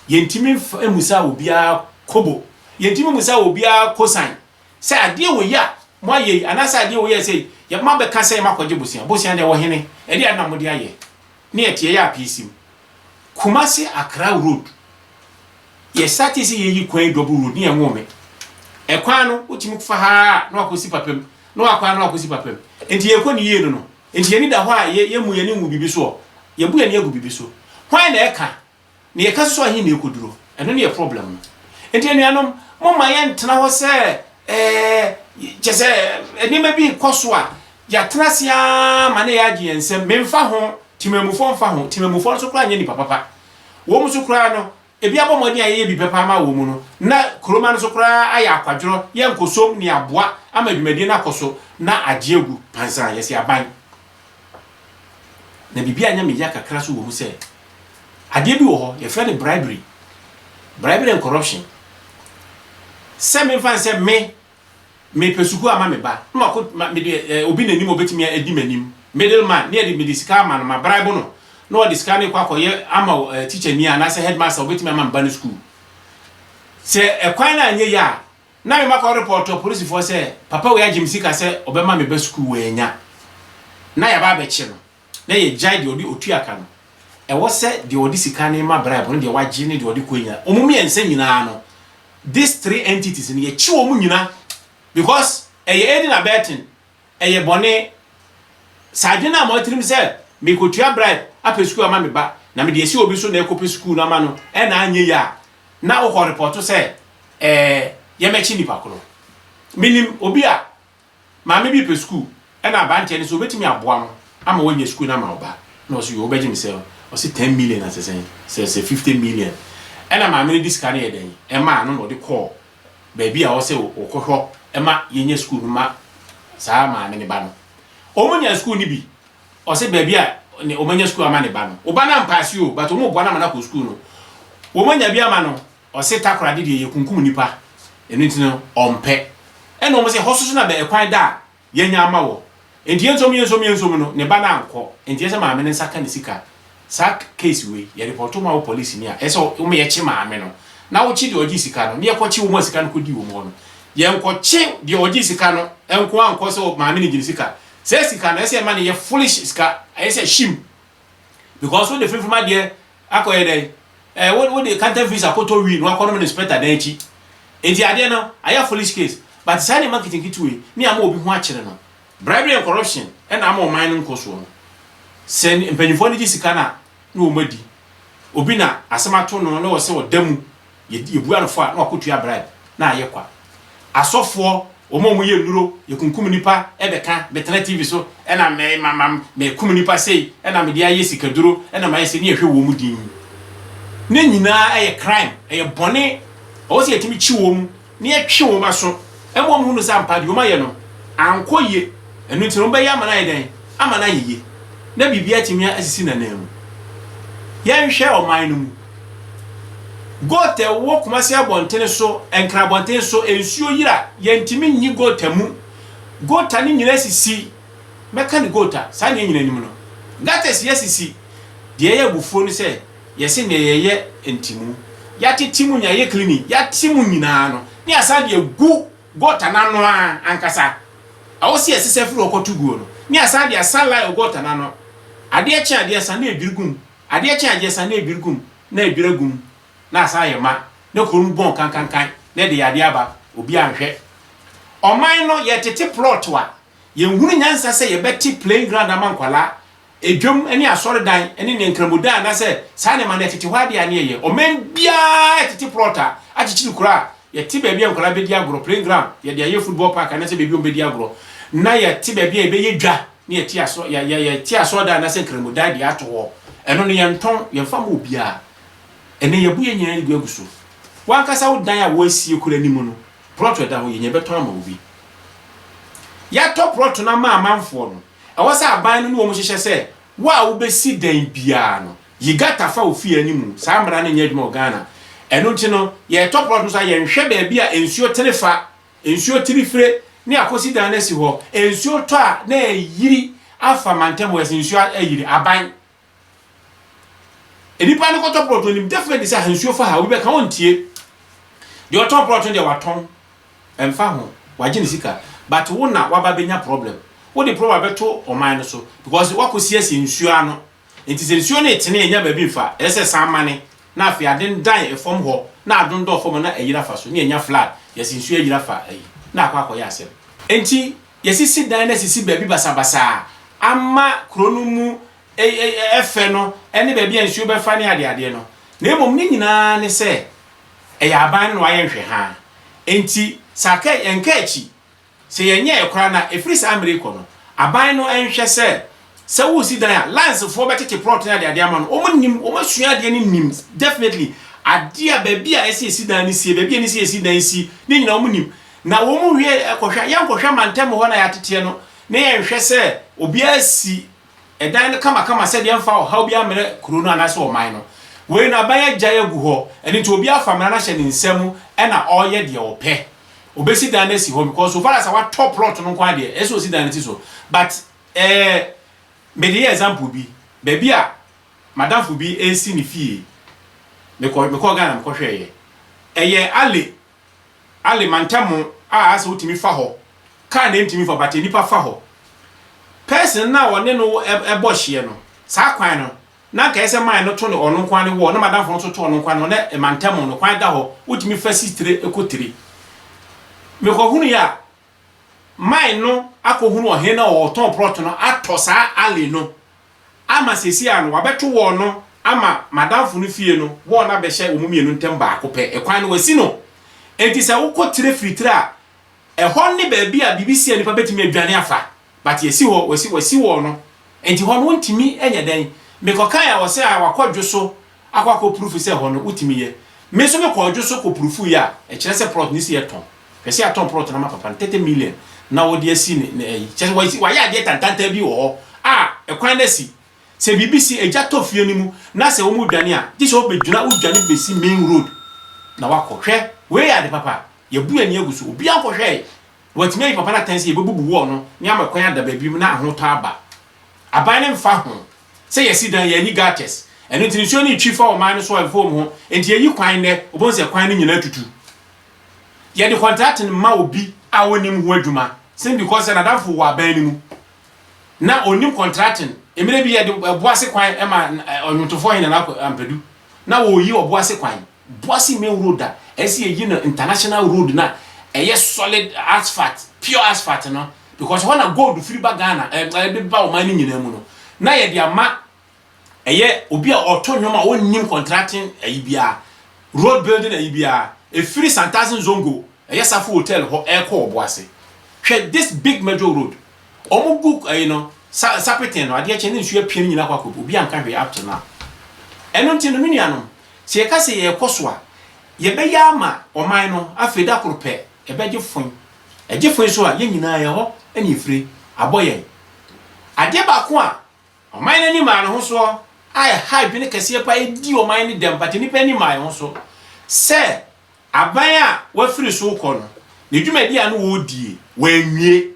Yɛntumi mmusa obiara kobo, yɛntumi mmusa obiara kosan sɛ adeɛ wei a moayɛ yi anaasɛ adeɛ wei a sei, yɛbɛma abɛka sɛ makɔgye bosea, bosea deɛ ɔhene, ɛdeɛn na mode ayɛ? Ne ɛteɛ yɛ apeesim. Kumasi Accra road, yɛ startee sɛ yɛyi kwan yi double road ne ɛnwoo me. Ɛkwan no wotumi fa ha ara na wakɔsi Papam, na wakɔ ano akɔsi papa mu. Enti yɛkɔ no yie no no, enti yɛn ani da hɔ a yɛmmu yɛn ani ngu biribi so ɔ? Yɛbu yɛn ani agu biribi so. Hwan na ɛka? Nea ɛka so sɛ ɔhe na ɛkɔduro? Ɛno ne yɛ problem no. Enti anuanom, momma yɛntena hɔ sɛ ɛɛ, kyerɛ sɛ nneɛma bi rekɔ so a, yɛatena ase ara ma na yɛagye yɛn nsam. Memfa ho, temammufoɔ mfa ho, temammufoɔ nso koraa nyɛ nnipa papa. Wɔn nso koraa no, Ebi abɔ mmɔden a yɛyɛ bi pɛ paa ma wɔn mu no, na kuroma no so koraa ayɛ akwadworɔ, yɛ nkosom ne aboa ama dwumadie no akɔ so na agye agu pansaa, yɛse aban. Na biribi a ɛnyɛ me ya kakra nso wɔ mu sɛ, adeɛ bi wɔ hɔ, yɛfrɛ no bribery, bribery and corruption. Sɛ memfa nsɛ me. Mepɛ sukuu ama me ba, na mako ma mede eh, obi n'anim a obetumi a edi m'anim, middle man, na yɛde mede sika ama no, ma bribe no, na ɔde sika no rekɔ akɔyɛ ama eh, tikyani anaasɛ headmaster a obetumi ama me ba no sukuu. Sɛ ɛkwan no anyɛ yie a, na me makɔ report apolisifoɔ sɛ papa wei agye me sika sɛ ɔbɛma me ba sukuu, wannya, na yɛaba abɛkye no. na yɛgyae deɛ ɔde otua ka no, ɛwɔ sɛ deɛ ɔde sika no ma bribe no, deɛ wagye ne deɛ ɔde kɔɛ nyinaa, wɔn mmiɛnsa nyinaa no, these three entities no, yɛkye wɔn nyina because ɛyɛ aiding abetting, ɛyɛ bɔne. Saa adwene no amma w'atirim sɛ merekɔtua bribe apɛ sukuu ama me ba, na mede asi obi so na ɛrekɔpɛ sukuu no ama no na anyɛ yie a, na wokɔ repɔɔto sɛ ɛɛ yɛmmɛkye nnipa korɔ. Menim obi a Maame bi repɛ sukuu na aberanteɛ no sɛ ɔbɛtumi aboa no ama wanya sukuu no ama wo ba na ɔse yoo wobɛgye me sɛn ɔse ten million na sɛ sɛn sɛ sɛ fifty million ɛna maame no de sika no yɛ dɛn ɛmaa no na ɔde kɔɔ baabi a ɔsɛ ɔkɔhwɔ ɛma yɛnya sukuu no ma saa maame ne ba no ɔmo nya sukuu no bi ɔse baabi a ne ɔmo anya sukuu ama ne ba no wo ba no ampaase o but ɔmo boa no ama no akɔ sukuu no wɔn anya bi ama no Ɔse takoradi deɛ yɛkunkum nnipa ɛno nti no ɔmpɛ ɛna ɔmo se ɛhɔ soso na bɛ ɛkwan da a yɛanya ama wɔ nti yɛnsom yɛnsom yɛnsom no ne ba no ankɔ nti ɛsɛ maame no nsa ka ne sika saa case wei yɛ report ma wo police ni a ɛsɛ woma yɛkye maame no na wokye deɛ ɔgye sika no na yɛkɔ kye wɔn a sika no kɔ di wɔn hɔ no yɛnkɔ kye deɛ ɔgye sika no nko ankɔ sɛ maame no gye ne sika sɛ sika no ɛsɛ ɛma no yɛ foolish sika ɛsɛ hyim because wo de fimfim adeɛ Akɔ yɛ dɛn? Eh wo wo de kantan visa kɔtɔ wii na wakɔ nom no inspector dan akyi. Enti adeɛ no ayɛ foolish case. But saa nneɛma nketenkete wei ne ama obi ho akyere no. Bribery and corruption na ama ɔman no nkɔ soɔ no. Sɛ mpanyinfoɔ no gye sika no a na wɔn adi. Obi na asɛm ato no na ɔsɛ ɔda mu. Yɛ yɛbua no fɔ a na wakotua bribe na ayɛ kwa. Asɔfoɔ wɔn a wɔyɛ nnuro yɛkunkum nnipa ɛbɛka bɛtena TV so ɛna mɛ ma ma mɛkum nnipa sei ɛna mede ayɛ sikaduro ɛna mayɛ sei ne yɛhwɛ wɔn din. Ne nyinaa ɛyɛ crime ɛyɛ bɔne ɛwɔ sɛ yɛtumi kyi wɔn. na yɛtwe wɔn aso ma wɔhunu sɛ ampa deɛ wɔayɛ no ankɔ yie, ɛno nti no wɔbɛyɛ ama no ayɛ dɛn? Ama no ayɛ yie na biribi atumi asisi n'ananmu. Yɛnhwɛ ɔman no mu. Goat a ɛwɔ Kumasi abɔntene so, Nkran abɔntene so, nsuo yiri a, yɛntumi nyi goat mu. Goat no nyinaa sisi. Mɛka no goat a, saa na yɛn nyinaa nim no. Gutters yɛ sisi. Deɛ ɛyɛ abufuo ne sɛ, Yɛse nea yɛyɛ ntimu. Yɛate timu nea yɛyɛ cleaning. Yɛate mu nyinaa no ne asan de agu gɔta no ano ara ankasa. Ɛwɔ se yɛsesa firi hɔ kɔto guo no ne asan de asa line wɔ gɔta no ano. Adeɛ kye adeɛ sa na edwiri gu mu. Adeɛ kye adeɛ sa na edwiri gu mu na edwiri agu mu na asan ayɛ ma na kuro no bɔn kankankan na ɛde yadeɛ aba. Obiara nhwɛ. Ɔman no yɛtete plot a yɛnhunu nyansa sɛ yɛbɛte playing ground ama nkwadaa Dwam ne asɔredan ne nea nkramodan anaasɛ saa nneɛma no ɛtete hɔ ade a ne yɛyɛ. Ɔman biara tete plot a akyekyere kuro a yɛte baabi a nkwadaa bɛdi agorɔ, playing ground, yɛde ayɛ football park anaasɛ baabi a wɔbɛdi agorɔ, na yɛte baabi a yɛbɛyɛ dwa na yɛte asɔ, yɛ, yɛ, yɛte asɔredan anaasɛ nkramodan de ato hɔ. Ɛno no, yɛntɔn, yɛmfa mma obiara. Ɛnnɛ, yɛabu yɛn nyinaa de agu so. W'ankasa wo dan a wɔasie kuro anim no, plot a ɛda hɔ, yɛnya bɛtɔn ama obi. Yɛatɔ plot no ama amanfoɔ no. Ɛwɔ sɛ aban no ne wɔn hyehyɛ sɛ wo a wobɛsi dan biara no, yi gata fa wo fie anim. Saa mmara no nyɛ adwuma wɔ Ghana. Ɛno nti no, yɛretɔ plɔt nso a, yɛnhwɛ baabi a nsuo tene fa, nsuo tiri fire, ne akɔsi dan no asi hɔ. Nsuo tɔ a, na ayiri afa mantam hɔ, ɛsɛ nsuo ayiri. Aban. Nnipa no kɔtɔ prɔto nim definitely sɛ ahansuo fa ha obi bɛka ɔntie deɛ ɔtɔn prɔto deɛ watɔn ɛmfa ho wagye ne sika but wo na waba bɛnya problem wode problem abɛto ɔman no so because wakɔsiesie nsuo ano nti sɛ nsuo no etene ɛnya baabi mfa ɛsɛ san mane na afei aden dan ɛfam hɔ na adondɔ fam na ayira fa so ne ɛnya flood yɛsi nsuo ayira fa ayi na akɔ akɔyɛ asɛm nti Yɛasisi dan no asisi baabi basabasa a ama kuro no mu fɛ no ne baabi a nsuo bɛfa ne adeadeɛ no, na mmom ne nyinaa ne sɛ ɛyɛ aban no na wɔayɛ nhwɛhaa. Enti sɛ aka yɛnka akyi, sɛ yɛnyɛeɛ koraa no a, ɛfiri saa mmerɛ yi kɔ no, aban no nhwɛ sɛ Sɛ woresi dan a, lines foɔ bɛtete plot ne adeade ama no, wɔn nim, wɔn asua adeɛ no nim definitely, adeɛ a baabi a ɛsɛ yɛsi dan no sie, baabi a ɛne sɛ yɛsi dan si, ne nyina wɔn nim, na wɔn wie kɔhwɛ a, yɛnkɔhwɛ mantam hɔ na yɛateteɛ no, na yɛnhwɛ sɛ obiara si dan no kamakama sɛdeɛ ɛmfa ɔhaw biara mmrɛ kuro no anaasɛ ɔman no. Wei no aban agyae agu hɔ, ɛno nti obiara afa mmara no ahyɛ ne nsa mu ɛna ɔreyɛ deɛ ɔpɛ, ɔbɛsi dan no asi hɔ because so far as sɛ watɔ plot no nko ara deɛ, ɛsɛ sɛ ɔsi dan no si so, but. Ɛɛ, mede yɛ example bi, baabi a m'adamfo bi resi ne fie, mekɔ, mekɔɔ Ghana mekɔhwɛeɛ. Ɛyɛ Ale, Ale mantam a asɛ wotumi fa hɔ, kaa na ɛntumi fa hɔ, but nnipa fa hɔ. Person no a ɔne no bɔ hyeɛ no, saa kwan no, na anka ɛyɛ sɛ mine no to no ɔno nko ara ne wall, na m'adamfo no nso to ɔno nko ara ne wall, na mantam no, kwan da hɔ, wotumi fa si tire kɔ tire. Mekɔhunuiɛ a, mine no akɔhunu ɔhene no a ɔtɔn prɔt no atɔ saa alley no ama seesei ara no wɔabɛto wall no ama madamfo no fie no wall no abɛhyɛ wɔn mmienu ntam baako pɛ, ɛkwan no wɔasi no enti sɛ wokɔ tire firi tire a ɛhɔ ne baabi a biribi si a nnipa bɛtumi adwane afa. But yɛsi hɔ wɔsi wɔsi hɔ no nti hɔ no wontumi nyɛ dɛn? Mekɔ kae a wɔsɛ a wakɔ dwo so akɔ akɔ prufu sɛ hɔ no wotumi yɛ. Me nso me kɔɔ dwo so kɔ prufu yɛ a ɛkyerɛ sɛ prɔt no si yɛ tɔn. Hwɛ sɛ yɛatɔn prɔt no ama papa no thirty million na ɔde asi ne ne ayi. Kyerɛ sɛ wɔasi wayɛ adeɛ tantantan bi wɔ hɔ a ɛkwan no asi. Sɛ biribi si egya tɔ fie no mu na sɛ wɔn redwane a gye sɛ wobɛgyina wodwane bɛsi main road na wakɔ. Hwɛ wei yɛ ade papa a yɛabu yɛn ani agu so obiara nkɔhwɛe Wɔatumi ayi papa no atɛn sɛ yɛbɛbubu wall no na yɛama kwan ada baabi mu na ahotɔ aba. Aban no mfa ho sɛ yɛasi dan, yɛanyi gutters. Ɛno nti nsuo no retwi fa ɔman no so a ɛmfa wɔn ho. Enti yɛyi kwan nnɛ, wobɛhu sɛ kwan no nyinaa atutu. Yɛde contracting mma obi a ɔnnim ho adwuma sɛ because sɛ n'adamfo wɔ aban no mu na ɔnnim contracting. Mmerɛ bi yɛde Ɔboase kwan ma ɔnwomtofoɔ Hene Nana Ampadu. Na wɔreyi Ɔboase kwan. Boise main road a ɛsi eyi no international road no a ɛyɛ solid asphalt pure asphalt no because ɛhɔ na gold firi ba Ghana ɛɛ ɛde ba ɔman no nyinaa mu no na yɛde ama ɛyɛ obi a ɔto nnwom a ɔnnim contracting ɛyi biara road building ɛyi biara ɛfiri Santasin Zongo ɛyɛ Safo hotel hɔ ɛrekɔ Ɔboase hwɛ this big major road wɔn gu ɛyi no sa sapeten no adeɛ kyɛ ne nsuo apue no nyinaa kɔ akɔ obi anka hwee up to now ɛno nti no me nuanom Sɛ yɛka sɛ yɛrekɔ so a, yɛbɛyɛ ama ɔman no, afei da koro pɛ, ɛbɛgye foe. Ɛgye foe so a, yɛn nyinaa yɛn hɔ na efire abɔ yɛn. Adeɛ baako a ɔman no ani maa ne ho soɔ a ɛha adwene kɛseɛ paa adi ɔman no dɛm, but nnipa ani mmaa ho so sɛ aban a wɔafiri so rekɔ no, ne dwumadi a na wɔredie, wɔanwie.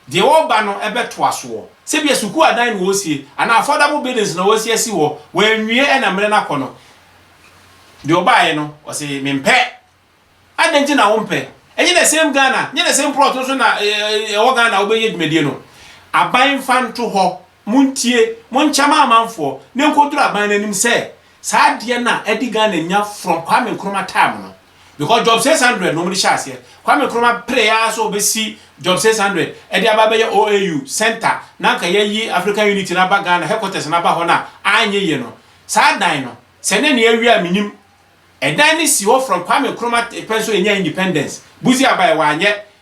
Deɛ wɔreba no bɛtoa soɔ. Sɛbia sukuu adan na wɔresie, anaa affordable buildings na wɔresi asi hɔ, wɔanwie na mmerɛ no akɔ no, deɛ ɔbaeɛ no, ɔse mempɛ. Adɛn nti na wompɛ? Ɛnyɛ the same Ghana, nyɛ the same plot nso na ɛwɔ Ghana a wobɛyɛ dwumadie no? Aban mfa nto hɔ Montie, monkyɛ m'amanfoɔ, na ɛnkɔduru aban no anim sɛ, saa adeɛ no a adi Ghana nya from Kwame Nkrumah time no, because Job 600 na wɔde hyɛɛ aseɛ, Kwame Nkrumah peree ara sɛ ɔbɛsi Job 600 de aba abɛyɛ OAU centre na anka yɛayi African Unity no aba Ghana, headquarters no aba hɔ no a, annyeye no. Saa dan no, sɛ na nea awie a mennim. Ɛdan no si hɔ from Kwame Nkrumah pɛ nso yɛnyaa independence, Buzi abaɛ, wanyɛ,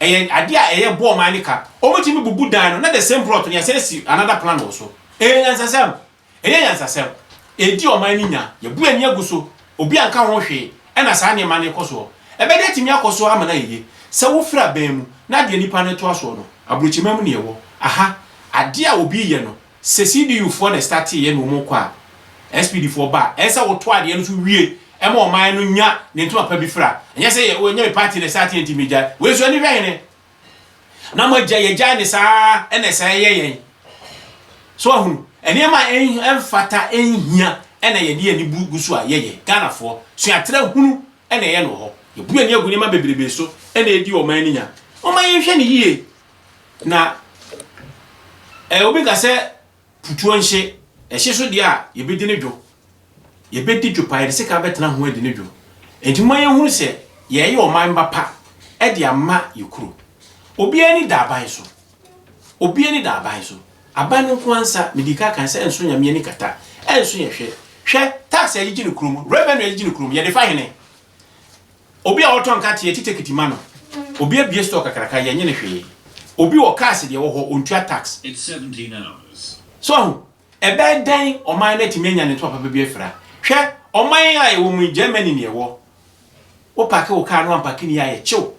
Ɛyɛ adeɛ a ɛyɛ bɔɔ man no ka. Wɔn tumi bubu dan no na the same plot no yɛ sɛ si another plan wɔ so. Ɛyɛ nyansasɛm. Ɛyɛ nyansasɛm. Ɛredi ɔman no nya. Yɛbu ani agu so. Obi anka ho hwee. Ɛna saa nneɛma no rekɔ soɔ. Ɛbɛde atumi akɔ soɔ ama no ayɛ yie. Sɛ wofiri aban mu na deɛ nipa no toa soɔ no, aburokyima mu na yɛwɔ. Aha, adeɛ a obi reyɛ no, Sɛ CDU foɔ na ɛstartee yɛ na wɔn rekɔ a, SPD foɔ ba a, ɛnsɛ wo to adeɛ no so wie ma ɔman no nya ne ntoma pa bi fira. Ɛnyɛ sɛ yɛ, oh, ɛnyɛ me party na ɛstartee nti me gyae. Wei nso ani hwɛ hene. Na mo agya yɛ gyae ne saa ɛna ɛsɛ ɛyɛ yɛn. So ahunu, ɛnneɛma a ɛnfata ɛnhia ɛna yɛde yɛn ani bu gu so a yɛ yɛ. Ghana foɔ, suatra hunu ɛna ɛyɛ no wɔ hɔ. Yɛbu yɛn ani agu nneɛma bebrebe so ɛna ɛdi ɔman no nya. Momma yɛnhwɛ no yie. Na ɛ, obi ka sɛ putuo nhye, ɛhye so deɛ a, yɛbɛdi ne dwo. Yɛbɛdi dwo paa, yɛde sekan bɛtena ho adi ne dwo. Enti momma yɛnhunu sɛ yɛreyɛ ɔman ba pa de ama yɛ kuro. Obiara ani da aban so. Obiara ani da aban so. Aban no nko ara nsa, medii ka kan sɛ ɛnso Nyame ani kata, ɛnso yɛn hwɛ. Hwɛ, tax a yɛgyegye no kurom, revenue a yɛgyegye no kurom, yɛde fa hene? Obi a ɔtɔ nkate yɛ kitekiti ma no. Obi abue store kakraka yɛ nye no hwee. Obi wɔ cars deɛ ɛwɔ hɔ ɔntua tax. So ahu? Ɛbɛyɛ dɛn ɔman no atumi anya ne ntoma papa bi afira? Hwɛ ɔman a yɛwɔ mu yi Germany na yɛwɔ. Wo parke wo car no ampake ne yie a yɛ kyew.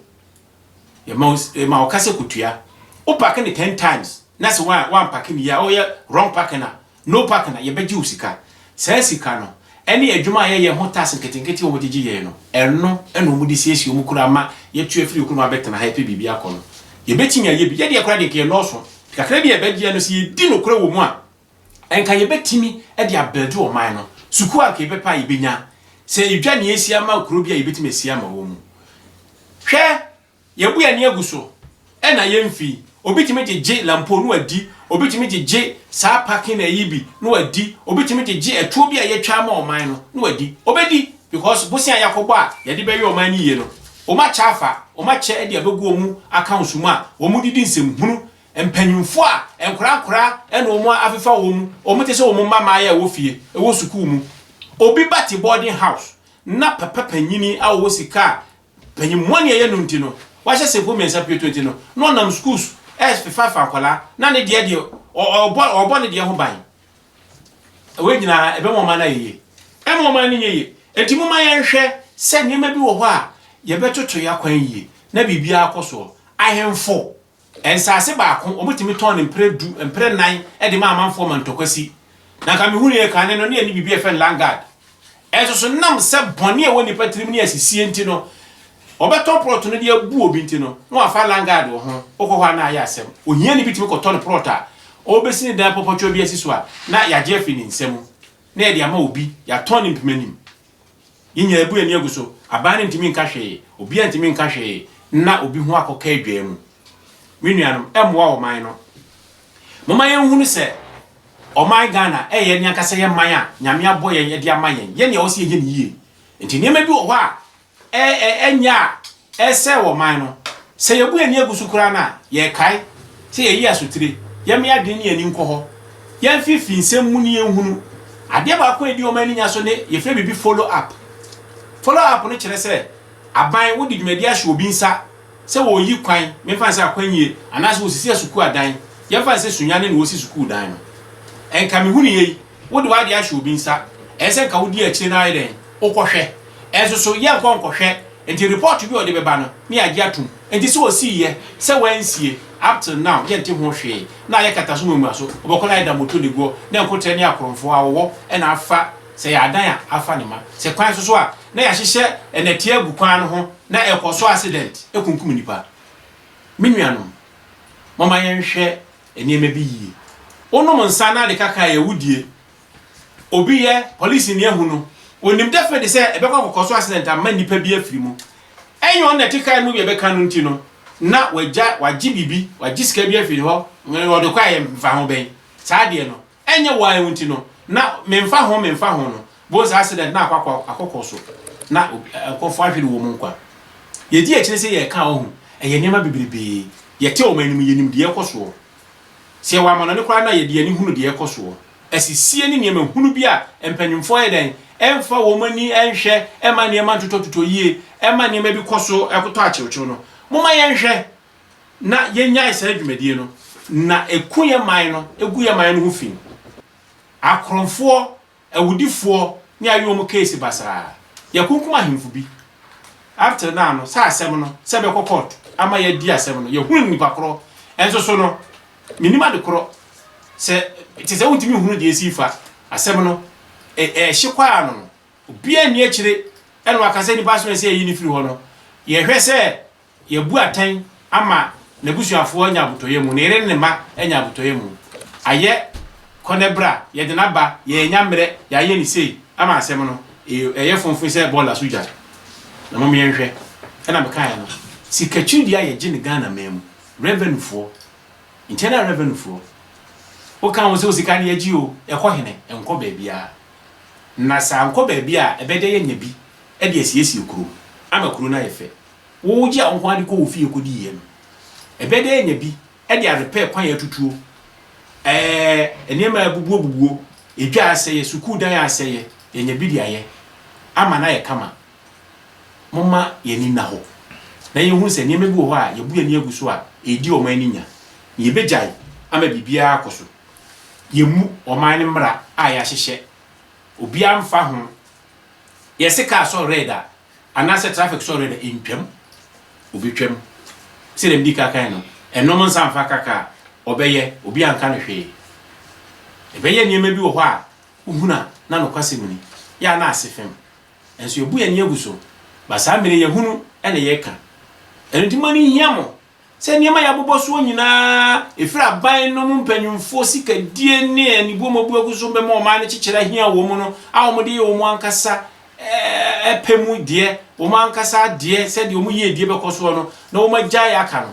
Yɛma yɛma ɔkasa kutua. Wo parke ne ten times na se wa wampake ne yie a ɔyɛ wrong parking a No partner, yɛbɛgye wo sika. Saa sika no, ɛne adwuma a yɛyɛ ho tax nketenkete a wɔde gye yɛn no, ɛno na wɔde siesie wɔn kuro ama yɛatu afiri yɛn kuro mu abɛtena ha repɛ biribi akɔ no. Yɛbɛtumi ayɛ bi. Yɛn deɛ koraa deɛ, nka yɛnnɔɔso. Kakra bi a yɛbɛgyeɛ no, sɛ yɛdi nokorɛ wɔ mu a, nka yɛbɛtumi de abuilde ɔman no. Sukuu a nka yɛbɛpɛ a, yɛbɛnya. Sɛ yɛdwa nea ɛsi ama kuro bi a, yɛbɛtumi asi ama wɔn. Hwɛ Yɛbu yɛn ani agu so na yɛmfi. Obi tumi gyegye lampo na wadi, obi tumi gyegye saa parking ɛyi bi na wadi, obi tumi gyegye ɛtoɔ bi a yɛtwa ama ɔman no na wadi. Ɔbɛdi because bosea a yɛakɔbɔ a yɛde bɛyɛ ɔman no yie no, wɔn akyɛ afa, wɔn akyɛ de abɛgu wɔn accounts mu a wɔde di nsɛmhunu. Mpanimfoɔ a nkwadaa nkwadaa na wɔn afefa wɔn, wɔn te sɛ wɔn mma mmaayɛ a ɛwɔ fie, ɛwɔ sukuu mu. Obi ba te boarding house na papa panin a ɔwɔ sika a Panyin mu a nea ɛyɛ no nti no, wahyɛ senku mmiɛnsa pioto nti no, na ɔnam sukuu so refafa akwadaa, na ne deɛ deɛ, ɔbɔ, ɔbɔ ne deɛ ho ban. Wei nyinaa, ɛbɛma ɔman no ayɛ yie? Ɛmma ɔman no nyɛ yie. Enti momma yɛnhwɛ sɛ nneɛma bi wɔ hɔ a, yɛbɛtoto yɛn akwan yie, na biribiara akɔ soɔ. Ahemfo Nsase baako, wɔtumi tɔn no mprɛ du, mprɛ nnan de ma amanfoɔ ma ntɔkwa si. Na anka mehunuiɛ kane no, na yɛnni biribi a yɛfrɛ no Landguard. Nso so, nam sɛ bɔne a ɛwɔ nnipa tirim ne asisie nti no, wɔbɛtɔn prɔt no de abu obi nti no, na wɔafa Landguard wɔ ho. Wokɔ hɔ a, na ayɛ asɛm. Ohiani bi tumi kɔtɔn prɔt a ɔrebɛsi ne dan pɔpɔtwa bi asi so a, na yɛagye afiri ne nsa mu, na yɛde ama obi, yɛatɔn no mpemanim. Yɛn nyinaa yɛabu yɛn ani agu so. Aban no ntumi nka hwee. Obiara ntumi nka hwee nna obi ho akɔka adwaa mu. Me nuanom, ɛmmoa ɔman no. Momma yɛnhunu sɛ ɔman Ghana yɛ yɛn ankasa yɛn man a Nyame abɔ yɛn de ama yɛn. Yɛn na ɛwɔ sɛ yɛyɛ no yie. Nti nneɛma bi wɔ hɔ a ɛnyɛ a ɛresɛe ɔman no. Sɛ yebu yɛn ani agu so koraa no a, yɛkae sɛ yɛayi asotire. Yɛmma yɛn adwene ne yɛn ani nkɔ hɔ. Yɛmfi fi nsɛm mu ne yɛnhunu. Adeɛ baako a ɛdi wɔn ani nya so ne yɛfrɛ biribi follow up. Follow up no kyerɛ sɛ aban wode dwumadi ahyɛ obi nsa sɛ wɔreyi kwan, memfa no sɛ akwanyie, anaasɛ wɔresisi asukuu adan, yɛmfa no sɛ Sunyani na wɔresi sukuu dan no. Nka mehunu yei Wode w'ade ahyɛ obi nsa, ɛsɛ sɛ nka wodi akyire na ayɛ dɛn? Wokɔhwɛ. Nanso so yɛnkɔ nkɔhwɛ? Enti report bi a ɔde bɛba no, ne yɛagye atom. Enti sɛ ɔsiiɛ, sɛ wansie, up till now yɛnte ho hwee. Na ayɛ kataso muamuaso, ɔbɛkɔ na ayɛ damoto de guɔ, na nkoterɛ ne akorɔmfoɔ, awɔwɔ na afa, sɛ ɛyɛ adan a, afa ne mma. Sɛ kwan so so a, na yɛahyehyɛ nnɛteɛ agu kwan no ho na ɛkɔ so accident kunkum nnipa. Me nuanom, momma yɛnhwɛ nneɛma bi yie. Wonom nsa na ade kakra yɛ wodie. Obi yɛ polisini ahu no, onim definitely sɛ ɛbɛkɔ akɔkɔ so accident ama nnipa bi afiri mu. Ɛnyɛ ɔno na ɛte kaa no mu bi a ɛbɛka no nti no, na wagya, wagye biribi, wagye sika bi afiri hɔ, ɔde kɔ a yɛmfa ho bɛn. Saa adeɛ no, Ɛnyɛ why wo nti no na memfa ho memfa ho no bohu sɛ accident na akɔ akɔkɔ so na nkɔfoɔ ahwere wɔn nkwa yɛdi akyire sɛ yɛka wahu ɛyɛ nneɛma bebrebee yɛte wɔn anim yɛnim deɛ ɛkɔ soɔ sɛ yɛwɔ amanɔne koraa na yɛde ani hunu deɛ ɛkɔ soɔ asisie ne nneɛma hunu bi a mpanyinfoɔ yɛ dɛn ɛmfa wɔn ani ɛnhwɛ ɛma nneɛma ntotɔtotɔ yie ɛma nneɛma bi kɔ so ɛkotɔ akyewkyew no moma yɛnhwɛ na yɛnyae saa dwumadie no, na ɛku yɛn man no, ɛgu yɛn man no ho fi. Akorɔmfoɔ, awudifoɔ ne ayɛ wɔn keesi basaa. Yɛakunkum ahemfo bi. Up till now no, sɛ asɛm no, sɛ bɛkɔ court ama yɛadi asɛm no, yɛhunu no nipa korɔ. Ɛnso so no, menim ade korɔ, sɛ te sɛ wontumi nhunu deɛ ɛsi fa asɛm no, ɛhye kɔ ano no, obiara nni akyire, ɛna waka sɛ nipa so ɛsɛ yɛyi no firi hɔ no, yɛhwɛ sɛ Yɛabu atɛn ama n'abusuafoɔ anya abotɔyam mu, ne yere ne ne mma anya abotɔyam mu. Ayɛ kɔ ne bra, yɛde no aba, yɛannya mmerɛ, yɛayɛ no sei, ama asɛm no, ee, ɛyɛ fomfo sɛ bɔɔla so gya. Na mom yɛnhwɛ, ɛna mekaeɛ no, sikakyiri deɛ a yɛgye no Ghana man mu, revenue foɔ, internal revenue foɔ, woka ho sɛ wo sika no yɛgye oo, ɛkɔ hene? Ɛnkɔ baabiara. Na sɛ ankɔ baabi a, ɛbɛyɛ dɛ yɛanya bi de asiesie kuro, ama kuro no ayɛ fɛ. Wogye ahohoade kɔ wo fie kodi yɛ no, ɛbɛ dɛ nya bi de arepɛ kwan atutuo, ɛɛ nneɛma a abubuo bubuo, edwa a asɛeɛ, sukuu dan a asɛeɛ, yɛnya bi de ayɛ ama no ayɛ kama. Momma yɛn ani nna hɔ na yɛnhunu sɛ nneɛma bi wɔ hɔ a yɛabu yɛn ani agu so a ɛredi ɔman ani nya, na yɛbɛgyae ama biribiara akɔ so. Yɛmmu ɔman no mmara a yɛahyehyɛ, obiara mfa ho. Yɛse kaa sɔ red a, Anaasɛ traffic sɔre no ntwam, obi twam. Sɛdeɛ medi ka kan no, nnom nsa mfa ka kaa, ɔbɛyɛ, obi anka no hwee. Ɛbɛyɛ nneɛma bi wɔ hɔ a wohunu a na nokwasɛm ni, yɛ a na ase fem. Nanso yɛabu yɛn ani agu so, ba saa mmere yi yɛhunu na yɛka. Ɛno nti mo ani nhia mo. sɛ nneɛma a yɛabobɔ soɔ nyinaa, ɛfiri aban nom mpanimfoɔ sikadie ne anibuo ma wɔbuagu so bɛma ɔman no kyekyere ahia wɔn no, a wɔde yɛ wɔn ankasa pɛ mu deɛ, wɔn ankasa adeɛ, sɛdeɛ wɔn yiedie bɛkɔ soɔ no, na wɔagyae aka no.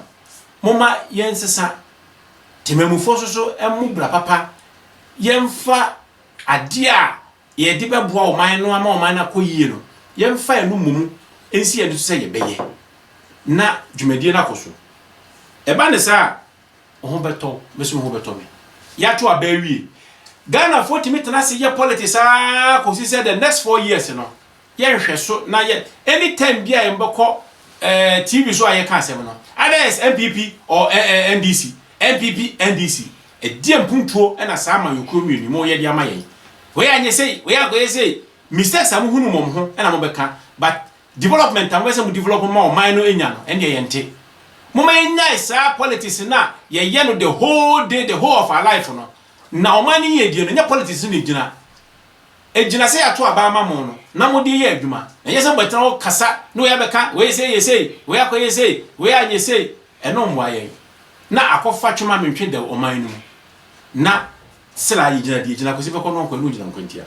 Momma yɛnsesa temammufoɔ nso so mmu bra papa, yɛmfa adeɛ a yɛde bɛboa ɔman no ama ɔman no akɔ yie no, yɛmfa yɛn ano mmɔ mu nsi yɛn ani so sɛ yɛbɛyɛ na dwumadie no akɔ so. Ɛba ne saa a, wo ho bɛtɔ wo, me nso me ho bɛtɔ me. Yɛato aba awie. Ghanafoɔ tumi tena ase yɛ politics ara kɔsi sɛ the next four years no, Yɛ nhwɛso na yɛ anytime biaa yɛ bɛkɔ eh TV so a yɛ ka asɛm no either yɛ sɛ NPP or eh eh NDC NPP NDC ɛdeɛn mpuntuo na saa amanyɔkuo mmienu yi mo yɛ de ama yɛn wei anyɛ sei wei ankɔyɛ sei mistakes a mo hunu mo mo ho na mo bɛka but development a mo pɛ sɛ mo develop ma ɔman no nya no ɛndeɛ yɛ nte Momma yɛnyae saa politics no a yɛyɛ no the whole day the whole of our life no na ɔman no yiedie no nyɛ politics no na ɛgyina. Egyina sɛ yɛato aba ama mo no na mode reyɛ adwuma. Ɛnyɛ sɛ mobɛtena hɔ kasa na wei abɛka, wei sei yɛ sei, wei akɔyɛ sei, wei anyɛ sei. Ɛno mmoa yɛn. Na akɔfa twema mentwe dɛw ɔman no mu. Na sela yɛgyina deɛ gyina Kwesi Fekɔ no nkɔ ɛno ngyina nkwantia.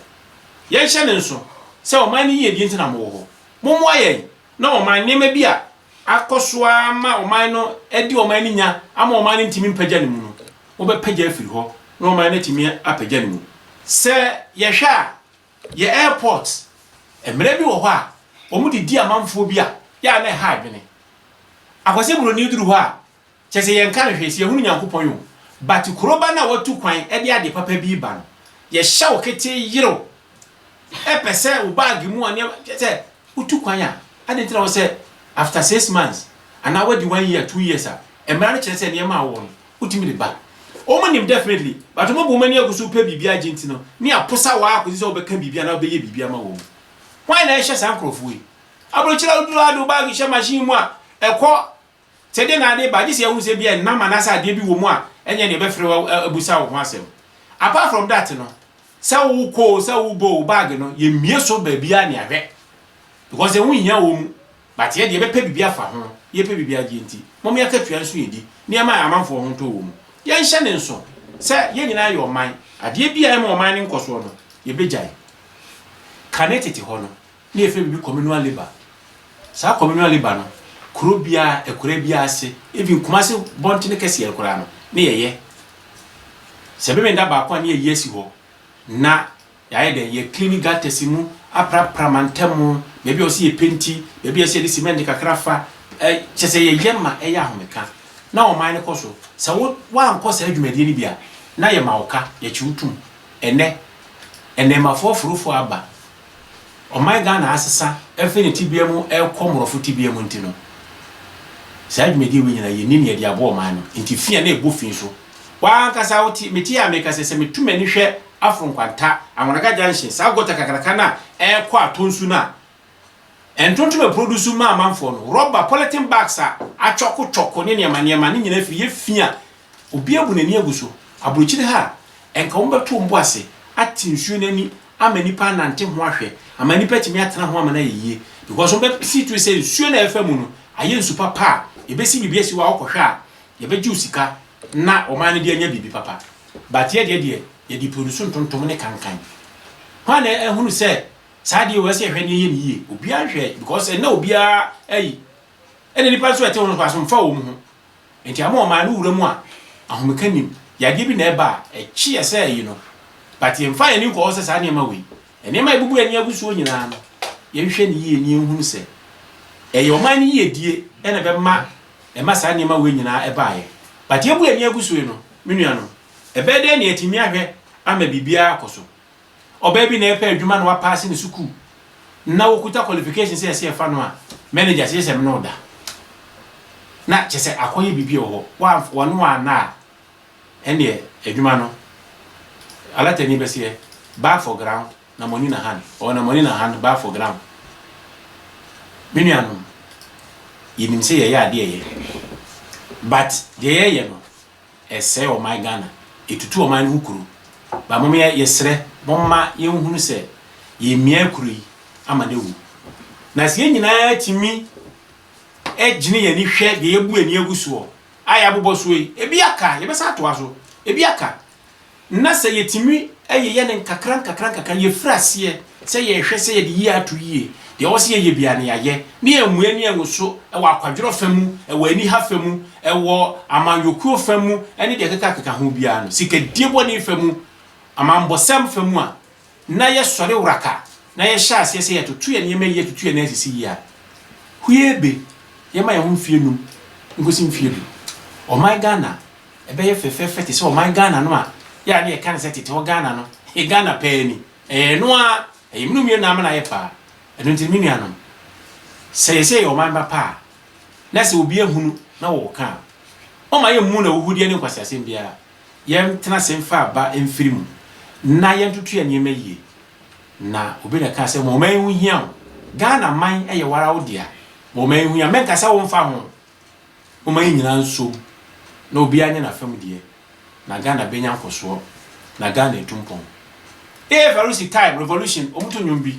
Yɛnhyɛ ne nso sɛ ɔman no yiyedie nti na mowɔ hɔ. Mommoa yɛn na ɔman nneɛma bi a akɔ so ara ma ɔman no adi ɔman no nya ama ɔman no ntumi mpagya ne mu no, wobɛpagya afiri hɔ na ɔman no atumi apagya ne mu. Sɛ yɛhwɛ a, yɛ airport, mmara bi wɔ hɔ a wɔde di amanfoɔ bi a yɛ a na ɛha adwene. Akwasi Buroni duru hɔ a, Kyɛ sɛ yɛnka no hwee sɛ yɛhunu Nyankopɔn o, but kuroba no a watu kwan de adeɛ papa bi reba no, yɛhyɛ wo ketee yerew, ɛpɛ sɛ wo bag mu a nneɛma, kyɛ sɛ wotu kwan a, adɛn nti na wɔ sɛ after six months anaa wadi one year, two years a, mmara no kyerɛ sɛ nneɛma a wowɔ no, wotumi de ba. Wɔn nim definitely, but wɔabu wɔn ani agu so repɛ biribi agye nti no, ne aposa wo ara kɔsi sɛ wobɛka biribi anaa wobɛyɛ biribi ama wɔn. Hwan na ɛhyɛ saa nkorɔfoɔ yi? Aburokyire a woduru ha de wo bag hyɛ machine mu a, ɛkɔ Sɛ dɛn na ade ba, gye sɛ yɛhunu sɛ ebia nnam anaasɛ adeɛ bi wɔ mu a ɛnyɛ nea ɛbɛfrɛ wo abisa wo ho asɛm. Apart from that no, sɛ wokɔ o, sɛ wobɔ o, bag no, yɛmmue so baabiara ne ahwɛ. Because ɛho nhia wɔ mu. But yɛ deɛ yɛbɛpɛ biribi afa ho. Yɛpɛ biribi agye nti, momma yɛakatua nso yɛdi. Nneɛma a amanfoɔ ho ntɔ wɔ mu. Yɛnhyɛ ne nso sɛ yɛn nyinaa yɛ ɔman. Adeɛ bi a ɛmma ɔman no nkɔsoɔ no, yɛbɛgyae. Kane tete hɔ no, Na yɛfrɛ biribi communal labour. Saa communal labour no, kuro biara, akuraa biara ase, even Kumasi bɔntene kɛseɛ no koraa no, na yɛyɛ. Sɛ ɛbɛma yɛn da baako a, na yɛayi asi hɔ, na yɛayɛ dɛn? Yɛ clean gutters mu, aprapra mantam, baabi a ɛwɔ sɛ yɛpenti, baabi a ɛsɛ sɛ yɛde cement kakra fa, ɛ, kyerɛ sɛ yɛyɛ ma ɛyɛ ahomeka. Na ɔman no kɔ so. Sɛ wo, woankɔ saa dwumadie no bi a, na yɛma wo ka, yɛkye wo tom. Ɛnnɛ, nnɛɛmafoɔ aforofoɔ aba. ɔman Ghana asesa afi ne tebea mu rekɔ mmorɔfo tebea mu nti no, saa dwumadie wei nyinaa yɛnni nea yɛde aboa ɔman no nti fi a na ɛbɔ fi nso. Wo ara ankasa wote me tie a meka sɛ, sɛ metu m'ani hwɛ Afro Nkwanta, Anwanaga Junction, saa gɔta kakraka no a ɛrekɔ atɔ nsu no a Ntontom aprodusu ma amanfoɔ no, rɔba, polythene bags a atwɔko twɔko ne nneɛma nneɛma ne nyinaa firi yɛ fi a obi abu n'ani agu so aburokyire ha a, nka wɔbɛto wɔn bo ase ate nsuo no ani ama nnipa anante ho ahwɛ, ama nnipa atumi atena ho ama no ayɛ yie. Because wɔn bɛ see through sɛ nsuo no a ɛfa mu no ayɛ nsu papa a yɛbɛsi biribi asi hɔ a wokɔhwɛ a yɛbɛgye wo sika na ɔman no de anya biribi papa. But yɛ deɛ deɛ yɛde produce ntontom ne kankan. Hwan na ahunu sɛ saa deɛ wɔ sɛ yɛhwɛ ne yɛyɛ ne yie? Obiara nhwɛ because ɛnna obiara ayi. Ɛna nnipa nso a ɛte ho no koraa so mfa wɔn ho. Enti ama ɔman no wura mu a ahomeka nnim, yadeɛ bi na ɛba a, ɛkye yɛ sɛ ayi no. But yɛmfa yɛn ani nkɔ hɔ sɛ saa nneɛma wei, nneɛma a yɛbubu yɛn ani agu soɔ nyinaa no, yɛnhwɛ no yie na yɛnhunu sɛ ɛyɛ ɔman no yiedie na ɛbɛma ɛma saa nneɛma wei nyinaa ɛbaeɛ. But yɛabu yɛn ani agu so yi no, me nuanom, ɛbɛyɛ dɛn na yɛatumi ahwɛ ama biribiara akɔ so? Ɔbaa bi na ɛrepɛ adwuma na wapaase ne sukuu na ɔkuta qualifications a ɛsɛ ɛfa no a, manager se gyesɛ me ne wo da. Na kyesɛ akɔyɛ biribi wɔ hɔ. Woamfa, wɔne wo anna a, ɛnneɛ adwuma no, alatani bɛseɛ, bag for ground na money na hand, or na money na hand, bag for ground. Me nuanom, yɛnim sɛ yɛyɛ adeɛ yɛ, but deɛ yɛyɛ no, ɛsɛe ɔman Ghana, ɛtutu ɔman no ho kuro, ba mom yɛsrɛ momma yɛnhunu sɛ yɛmia kuro yi ama no awu, na sɛ yɛn nyinaa tumi gyene yɛn ani hwɛ deɛ yɛbu ani agu soɔ a yɛabobɔ soɔ yi, ebi aka, yɛbɛsan atoa so, ebi aka. Na sɛ yɛtumi yeyɛ no nkakrankakra, yɛfiri aseɛ sɛ yɛrehwɛ sɛ yɛde yie ato yie, deɛ ɛwɔ sɛ yɛyɛ biara no yɛayɛ, na yɛammue ani angu so wɔ akwadworɔ fa mu, wɔ aniha fa mu, wɔ amanyɔkuo fa mu, ne deɛ ɛkekakeka ho biara no, sikadie bɔne fa mu, amammɔsɛm fa mu a, na yɛsɔre wraka na yɛhyɛ aseɛ sɛ yɛtoto yɛn nneɛma yie atutu yɛn nan asisi yie a, huee be yɛn ma yɛn ho mfeɛ num nkɔsi mfeɛ du. Ɔman Ghana bɛyɛ fɛfɛɛfɛ te sɛ ɔman Ghana no a yɛ a na yɛka no sɛ tete hɔ Ghana no yɛ Ghana paa ni. Ɛyɛ ɛno ara, ɛyɛ mene wo mmienu na ama no ayɛ paa. Ɛno nti no me nuanom, sɛ yɛsɛ yɛyɛ ɔman ba pa a, na sɛ obi ahunu na ɔɔka a, ɔmma yɛmmu no ahuhudeɛ ne nkwaseasɛm biara. Yɛntena ase mfa aba mfiri mu na yɛntoto yɛn nneɛma yie. Na obi na ɛkaa sɛ, ma ɔman yi ho nhia wo. Ghana man yɛ wo ara wo dea. Ma ɔman yi ho nhia. Menka sɛ womfa ho. Momma yɛn nyinaa nsom na obiara nyɛ n'afa mu deɛ. Na Ghana bɛnya nkɔsoɔ. Na Ghana atu mpɔn. Eefa Rusi time, revolution, wɔto nnwom bi.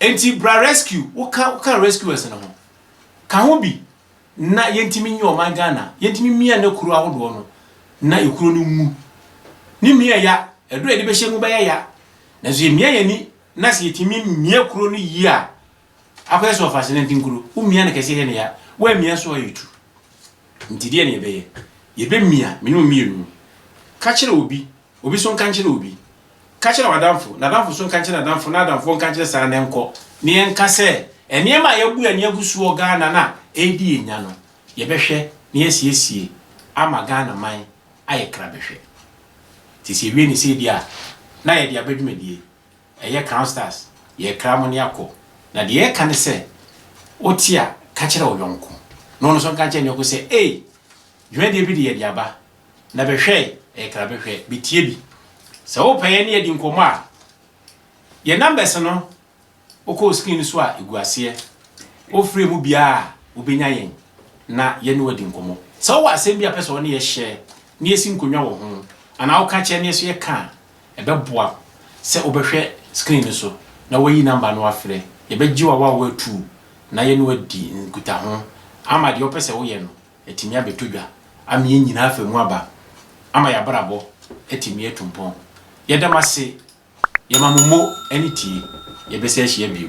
Enti bra rescue wo ka wo ka rescuers no ho ka ho bi na yɛntumi nyɛ ɔman Ghana yɛntumi mia ne kuro ahodoɔ no na ekuro no nwu ne mia ya ɛdɔ yɛde bɛhyɛ mu bɛyɛ ya nanso yɛ mia yɛni na sɛ yɛtumi mia kuro no yie a akɔyɛ sɛ ɔfase nanti nkuro wo mia no kɛseɛ yɛ ne ya wo amia so ayɛ tu nti deɛ ne yɛbɛyɛ yɛbɛmia mene mmienu ka kyerɛ obi Obi so nka nkyerɛ obi. Ka kyerɛ w'adamfo, n'adamfo so nka nkyerɛ n'adamfo, na adamfoɔ nka nkyerɛ saa ara na ɛnkɔ. Na yɛnka sɛ, nneɛma a yɛabu yɛn ani agu so wɔ Ghana no a ɛredi yɛn nya no, yɛbɛhwɛ na yɛasiesie ama Ghana man ayɛ krabɛhwɛ. Nti sɛ yɛwie no sei deɛ a, na yɛde aba dwumadie. Ɛyɛ Crown Stars, yɛrekra mo ne akɔ. Na deɛ yɛreka ne sɛ, wote a, ka kyerɛ wo yɔnko, na ɔno nso nka nkyerɛ ne yɔnko sɛ, Ei! Dwumadie bi de yɛde aba. na bɛhwɛe, ɛyɛ kra bɛhwɛ, bɛtie bi. Sɛ wopɛ yɛne adi nkɔmmɔ a, yɛ numbers no wokɔ screen no so a ɛgu aseɛ. Wofrɛ mu biara a, wobɛnya yɛn na yɛne wadi nkɔmmɔ. Sɛ wowɔ asɛm bi a pɛ sɛ ɔne yɛ hyɛ na yɛsi nkonnwa wɔ ho anaa woka kyerɛ na yɛso yɛka a, ɛbɛboa sɛ wobɛhwɛ screen no so na woayi number no afrɛ. Yɛbɛgye wo awawa atuu na yɛne wadi nkutaho ama deɛ wopɛ sɛ woyɛ no Atumi abɛtɔ dwa ama yɛn nyinaa afa mu aba, ama yɛn abrabɔ atumi atu mpɔn. Yɛda mo ase, yɛma mo mo ani tie, yɛbɛsan ahyia bio.